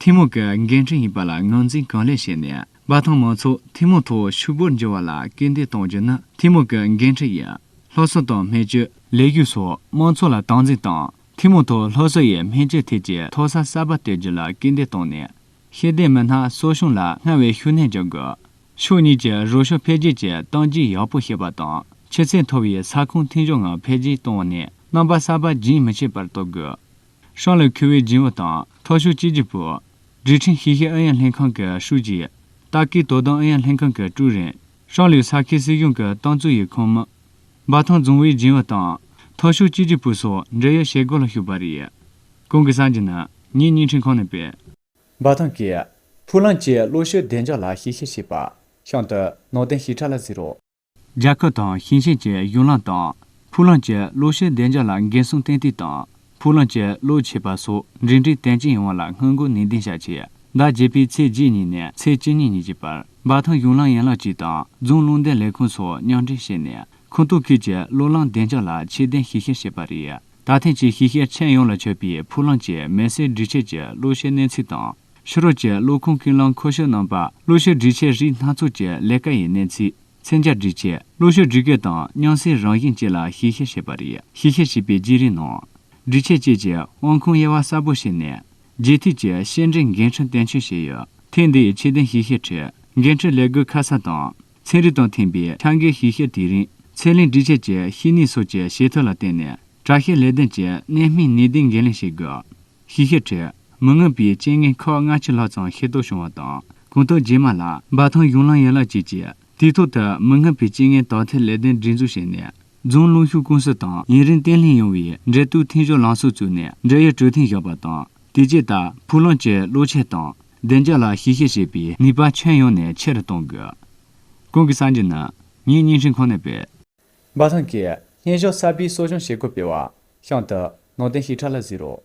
ཐུན་མོང་གི་འགན་འཁྲི་ཡིན་པ་ལ་ངོས་འཛིན་གང་ལེགས་བྱས་ནས་པ་དང་མང་ཚོགས་ཐུན་མོང་ཐོག་ཕྱུག་པོར་འགྱུར་བ་ལ་སྐུལ་འདེད་གཏོང་རྒྱུ་ནི་ཐུན་མོང་གི་འགན་འཁྲི་ཡིན། ལྷོ་གསོལ་དང་སྨན་བཅོས། ལས་ཞུགས་སོགས་དམངས་འཚོ་ལ་སྟངས་འཛིན་དང་ཐུན་མོང་ཐོག་ལྷོ་གསོལ་ཡའི་སྨན་བཅོས་ཐད་ཀྱི་མཐོ་ས་གསར་པ་གཏོད་རྒྱུ་ལ་སྐུལ་འདེད་བཏང་ནས། ཤེས་ལྡན་མི་སྣ་གསོ་སྦྱོང་ལ་སྔར་བས་ཤུགས་སྣོན་རྒྱག་དགོས། ཕྱོགས་གཉིས་ཀྱི་རོགས་ཕྱོགས་འཕེལ་རྒྱས་ཀྱི་སྟངས་འཛིན་ཡག་པོ་བྱེད་པ་དང་ཆུ་ཚད་མཐོ་བའི་ས་ཁོངས་མཐུན་སྦྱོར་ངང་འཕེལ་རྒྱས་བཏང་ནས་རྣམ་པ་གསར་པ་རྒྱུན་མི་ཆད་པར་གཏོད་དགོས། ཧྲང་ལི་ཁི་ཝེ་སྦྱིན་བ་དང་ཐོ་ཞོ་ཅེ་ཅི་པུ། ཀྲི་ཁྲིན་ཤིས་ཤིས་ཨན་ཡན་ལྷན་ཁང་གི་ཧྲུའུ་ཅི། ཏཱ་ཀི་ཏོ་ཏང་ཨན་ཡན་ལྷན་ཁང་གི་ཀྲུའུ་རེན། ཧྲང་ལི་ས་ཁུལ་སྲིད་གཞུང་གི་ཏང་ཙུའུ་ཡི་ཁོངས་མི། འབའ་ཐང་རྫོང་བའི་སྦྱིན་བ་དང་ཐོ་ཞོ་ཅེ་ཅི་པུ་སོགས་འབྲེལ་ཡོད་བྱེད་སྒོ་ལ་ཞུགས་པ་རེད། ཁོང་གིས་གསར་འགྱུར་ནི་ངས་བརྙན་འཕྲིན་ཁང་ནས་སྤེལ། འབའ་ཐང་གི། ཕུ་ལང་བཅས་བློ་གཞི་བདེ་འཇགས་ལ་ཞིབ་བཤེར་བྱེད་པ། ཤང་དུ། ནོར་ལྡན་ཞི་ཁྲ་ལ་གཟིགས་རོགས། རྒྱལ་ཁབ་དང་ཞིང་ཆེན་གྱི་གཞུང་ལམ་དང་ཕུག་ལམ་གྱི་གློག་ཤུགས་བདེ་འཇགས་ལ་འགན་སྲུང་ཏན་ཏིག་དང་ཕུག་ལམ་གྱི་གློག་ཆད་པ་སོགས་འབྲེལ་འདྲིས་ཏན་ཅིང་ཡོང་བ་ལ་སྔོན་འགོག་ནུས་ལྡན་བྱ་ཆེད་ཟླ་བརྒྱད་པའི་ཚེས་བརྒྱད་ཉིན་ནས་ཚེས་བཅུ་ཉིན་ཉིན་གཅིག་པར་འབའ་ཐང་གཞུང་ལམ་ཡན་ལག་གཅིག་དང་རྫོང་རླུང་འདེད་ལས་ཁུངས་སོགས་མཉམ་འབྲེལ་བྱས་ནས་ཁོངས་གཏོགས་ཁུལ་གྱི་གློག་ལམ་བདེ་འཇགས་ལ་ཆེད་དོན་ཞིབ་བཤེར་བྱས་པ་རེད། ད་ཐེངས་ཀྱི་ཞིབ་བཤེར་ཆེད་ཡོངས་ལ་མཆོད་པའི་ཕུག་ལམ་གྱི་མེ་སྲེག་སྒྲིག་ཆས་ཀྱི་གློག་ཤུགས་གནས་ཚུལ་དང། ཕྱི་རོལ་གྱི་གློག་ཁུངས་ཀྱི་རླངས་འཁོར་ཤུགས་སྣོན་པ་གློག་ཤུགས་སྒྲིག་ཆས་རིགས་སྣ་ཚོགས་ཀྱི་ལས་ཀ་ཡི་གནས་ཚུལ་ཚན་བརྒྱ་སྒྲིག་ཆས་གློག་ཤུགས་སྒྲིག་སྐབས་དང་མཉམ་བསྲེས་རང་བཞིན་བཅས་ལ་ཞིབ་བཤེར་བྱས་པ་རེད་ཞིབ་བཤེར་བྱས་པའི་བརྗེ་རེས་ནང། སྒྲིག་ཆས་བཅས་ཀྱི་དབང་ཁུངས་དབྱེ་བ་གསལ་པོ་བྱས་ནས། རྗེས་མཐུད་ཀྱི་བཤེར་འབྲས་འགན་འཁྲི་དོན་འཁྱོལ་བྱས་ཡོད། ཐེངས་འདིའི་ཆེད་དོན་ཞིབ་བཤེར་ཁྲོད་འགན་འཁྲི་ལས་སྒོའི་ཁ་གསབ་དང་ཚན་རིག་དང་མཐུན་པའི་ཆ་འགའི་ཞིབ་བཤེར་དེ་རིང་ཚད་ལེན་སྒྲིག་ཆས་ཀྱི་ཤེས་ནུས་སོགས་ཀྱི་བྱེད་ཐབས་ལ་བརྟེན་ནས་དྲག་ཤེས་ལས་དོན་གྱི་གནད་སྨིན་ནུས་ལྡན་འགན་ལེན་བྱེད་དགོས། ཤེས་བྱའི་ཁྲོད་མི་མངོན་པའི་རྐྱེན་ངན་ཁག་སྔ་ཕྱི་ལྷག་ཙམ་ཤེས་རྟོགས་བྱུང་བ་དང་གོང་དུ་རྗེས་མ་ལ་འབའ་ཐང་གཞུང་ལམ་ཡན་ལག་བཅས་ཀྱི་དུས་ཐོག་ཏུ་མི་མངོན་པའི་རྐྱེན་ངན་དག་ཐེར་ལས་དོན་སྒྲིག་འཛུགས་བྱས་ནས་རྫོང་གླིང་ཤོག་ཀུང་སི་དང་ཡུན་རིང་བརྟན་ལྷིང་ཡོང་བའི་འབྲེལ་གཏུག་འཐེན་སྦྱོར་ལངས་ཕྱོགས་བཙུགས་ནས་འབྲེལ་ཡོད་གྲོས་མཐུན་བཞག་པ་དང་དེ་རྗེས་ལྟ་ཕུགས་ལམ་གྱི་བློ་ཁྱེར་དང་བདེ་འཇགས་ལ་ཞིབ་བཤེར་བྱེད་པའི་ནུས་པ་ཁྱོན་ཡོངས་ནས་ཆེ་རུ་གཏོང་དགོས། གོང་གི་གསར་འགྱུར་ནི་ངའི་རྙིང་ཞེན་ཁོ་ནའི་དཔེ། འབའ་ཐང་གིས་བརྙན་གཞོགས་གསར་པའི་གསོ་སྦྱོང་བྱེད་སྒོ་སྤེལ་བ། ཤང་ཏི། ནོར་ལྡན་ཞིབ་ཕྲ་ལ་གཟིགས་རོགས།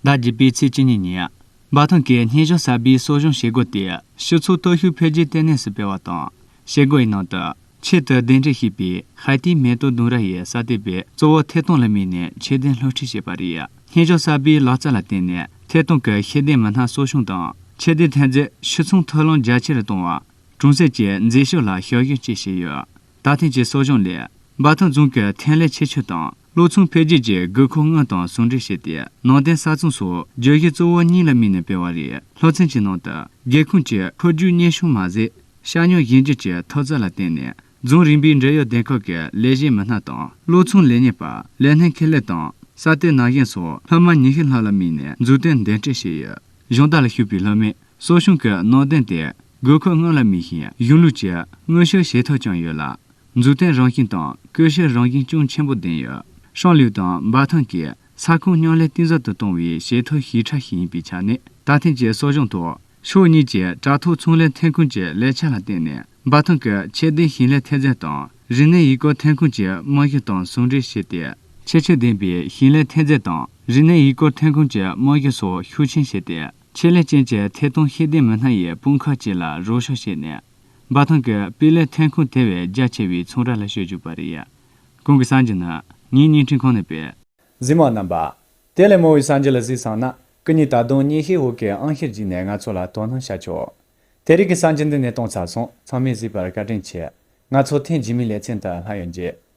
ཟླ་བརྒྱད་པའི་ཚེས་བཅུ་གཉིས་ཉིན། འབའ་ཐང་གིས་བརྙན་གཞོགས་གསར་པའི་གསོ་སྦྱོང་བྱེད་སྒོ་དེ་ཕྱི་ཚུལ་སྟོབས་ཤུགས་འཕེལ་རྒྱས་ལྟེ་གནས་སུ་སྤེལ་བ་དང། བྱེད་སྒོའི་ནང་དུ། ཆེད་དུ་གདན་འདྲེན་བྱས་པའི་ཧའེ་ཏིའི་མེ་ཏོག་ལྡུམ་ར་ཡིས་ས་དེ་བས་གཙོ་བོ་ཐད་གཏོང་ལ་དམིགས་ནས་ཁྱད་ལྡན་སློབ་ཁྲིད་བྱས་པ་རེད། བརྙན་གཞོགས་གསར་པའི་ལག་རྩལ་ལ་བརྟེན་ནས་ཐད་གཏོང་གི་ཤེས་ལྡན་མི་སྣ་གསོ་སྐྱོང་དང་ཁྱད་ལྡན་ཐོན་རྫས་ཕྱིར་ཚོང་ཐོ་ལོངས་རྒྱ་ཆེ་རུ་གཏོང་བ། གྲོང་གསེབ་ཀྱི་མཛེས་ཤོས་ལ་ཞབས་ཞུ་བཅས་བྱས་ཡོད། ད་ཐེངས་ཀྱི་གསོ་སྦྱོང་ལས། འབའ་ཐང་རྫོང་གིས་ཐོན་ལས་ཆེ་ཤོས་དང་ལུག་འཚོང་འཕེལ་རྒྱས་ཀྱི་དགོས་མཁོ་དངོས་དང་ཟུང་འབྲེལ་བྱས་ཏེ་ནང་བསྟན་གསར་རྩོམ་སོགས་བརྗོད་གཞི་གཙོ་བོ་གཉིས་ལ་དམིགས་ནས་སྤེལ་བ་རེད་ལྷོ་ཚན་གྱི་ནང་དུ་སྒེའུ་ཁུང་གི་འཕོ་འགྱུར་སྙན་གཞུང་མ་ཟད། ཤ་ཉོ་གཞན་རྒྱུད་ཀྱི་མཐོ་ཚད་ལ་བརྟེན་ནས་རྫོང་རིམ་པའི་འབྲེལ་ཡོད་སྡེ་ཁག་གི་ལས་བྱེད་མི་སྣ་དང་ལུག་འཚོང་ལས་གཉེར་པ་ལས་སྣེ་ཁེ་ལས་དང་ས་གཏེར་ནག་གཞན་སོགས་ལྷག་མ་ཉི་ཤུ་ལྷག་ལ་དམིགས་ནས་འཛུགས་གཏོད་འདོན་སྤྲོད་བྱས་ཡོད། གཞུང་རྟ་ལ་ཞུགས་པའི་ལྷ་མོས་གསོ་སྦྱོང་གི་ནང་དོན་དེ་དགོས་མཁོ་སྔོན་ལ་དམིགས་ཤིང་གཞུང་ལུགས་ཀྱི་མངོན་ཤུགས་བྱེད་ཐབས་ཀྱང་ཡོད་ལ། འཛུགས་གཏན་རང་བཞིན་དང་སྐུལ་ཞིབ་རང་བཞིན་ཅུང་ཆེན་པོ་ལྡན་ཡོད། ཧྲང་ལིའུ་དང་འབའ་ཐང་གིས་ས་ཁོངས་མཉམ་ལས་གཏིང་ཟབ་ཏུ་གཏོང་བའི་བྱེད་ཐབས་ཤིག་ཕྲ་ཞིང་ཡིན་པའི་ཆ་ནས་ད་ཐེངས་ཀྱི་གསོ་སྦྱོང་ཐོག་ཕྱོགས་གཉིས་ཀྱིས་དྲ་ཐོག་ཚོང་ལས་ཐོན་ཁུངས་ཀྱི་ལེགས་ཆ་ལ་བརྟེན་ནས་འབའ་ཐང་གི་ཁྱད་ལྡན་ཞིང་ལས་ཐོན་རྫས་དང་རིག་གནས་ཡུལ་སྐོར་ཐོན་ཁུངས་ཀྱི་རྨང་གཞི་དང་ཟུང་འབྲེལ་བྱས་ཏེ། ཁྱད་ཆོས་ལྡན་པའི་ཞིང་ལས་ཐོན་རྫས་དང་རིག་གནས་ཡུལ་སྐོར་ཐོན་ཁུངས་ཀྱི་རྨང་གཞི་སོགས་ཤུགས་ཆེན་བྱས་ཏེ། ཆེད་ལས་ཅན་གྱི་ཐད་གཏོང་ཤེས་ལྡན་མི་སྣ་ཡི་དཔུང་ཁག་བཅས་ལ་རོགས་ཞུགས་བྱས་ནས། འབའ་ཐང་གི་སྤུས་ལེགས་ཐོན་ཁུངས་དེ་བས་རྒྱ་ཆེ་བའི་ཚོང་ར་ལ་བཤོལ་བཅུག་པ་རེད། གོང་གི་སང་ཇིན་ནི་ངའི་བརྙན་འཕྲིན་ཁང་ནས་སྤེལ། གཟིགས་མ་རྣམ་པ། དེ་ལས་མང་བའི་སང་ཇིན་ལ་གཟིགས་སང་ན་ཀུ་ཉི་ད་དུང་ཉིན་ཤས་འོག་གི་ཨང་ཤེར་བརྒྱུད་ནས་ང་ཚོ་ལ་དོ་སྣང་བྱ་ཆོག་དེ་རིགས་ཀྱི་སང་ཇིན་འདི་ནས་གཏོང་ཚར་སོང་ཚང་མས་གཟིགས་པར་བཀའ་དྲིན་ཆེ། ང་ཚོ་ཐེངས་རྗེས་མའི་ལེ་ཚན་དུ་ལྷག་ཡོད་རྗེས།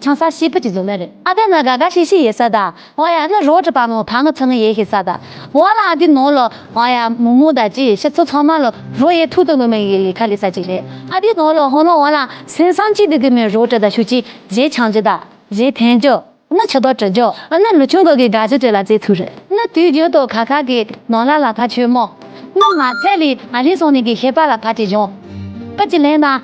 ཆང་ས་ཤི་བུ་ཅིག་བཟོ་ན་རེད་ཨ་དེ་ན་དགའ་དགའ་ཤི་ཤི་ཡེད་ས་ད་ཨོ་ཡ་ནི་རོག་དྲི་པ་མོ་ཕ་མི་ཚུ་ནི་ཡེད་ཤི་ས་ད་ཨོ་ལ་ཨ་དེ་ནོ་ལོ་ཨོ་ཡ་མུ་མུ་ད་ཅི་ཡེད་ཤི་ཚུ་ཚང་མ་ལོ་རོག་ཡེད་ཐུག་ཏུ་ནུ་མི་ཡེད་ཡེད་ཁ་ལི་ས་ཅིག་རེད་ཨ་དེ་ནོ་ལོ་ཧོ་ནོ་ཨོ་ལ་སེང་སང་ཅིག་དེ་དེ་མོའི་རོག་དྲི་ད་ཤུ་ཅིག་བཞེས་ཆང་ཅིག་ད་བཞེས་ཐན་ཅོ་ནི་ཆུ་དོག་དྲི་ཅོ་ནི་ལུ་ཆུང་གོ་གི་དགའ་ཅི་དྲི་ལ་རྩེ་ཚུག་རེད་ནི་དུས་རྒྱུན་དུ་ཁ་ཁ་གི་ནོ་ལ་ལ་ཕ་ཆོས་མོ་ནི་མ་ཚད་ལི་ཨ་ལི་སོང་ནི་གི་ཤེས་པ་ལ་ཕ་དྲི་བཞོང་པི་ཅིག་ལེན་ན།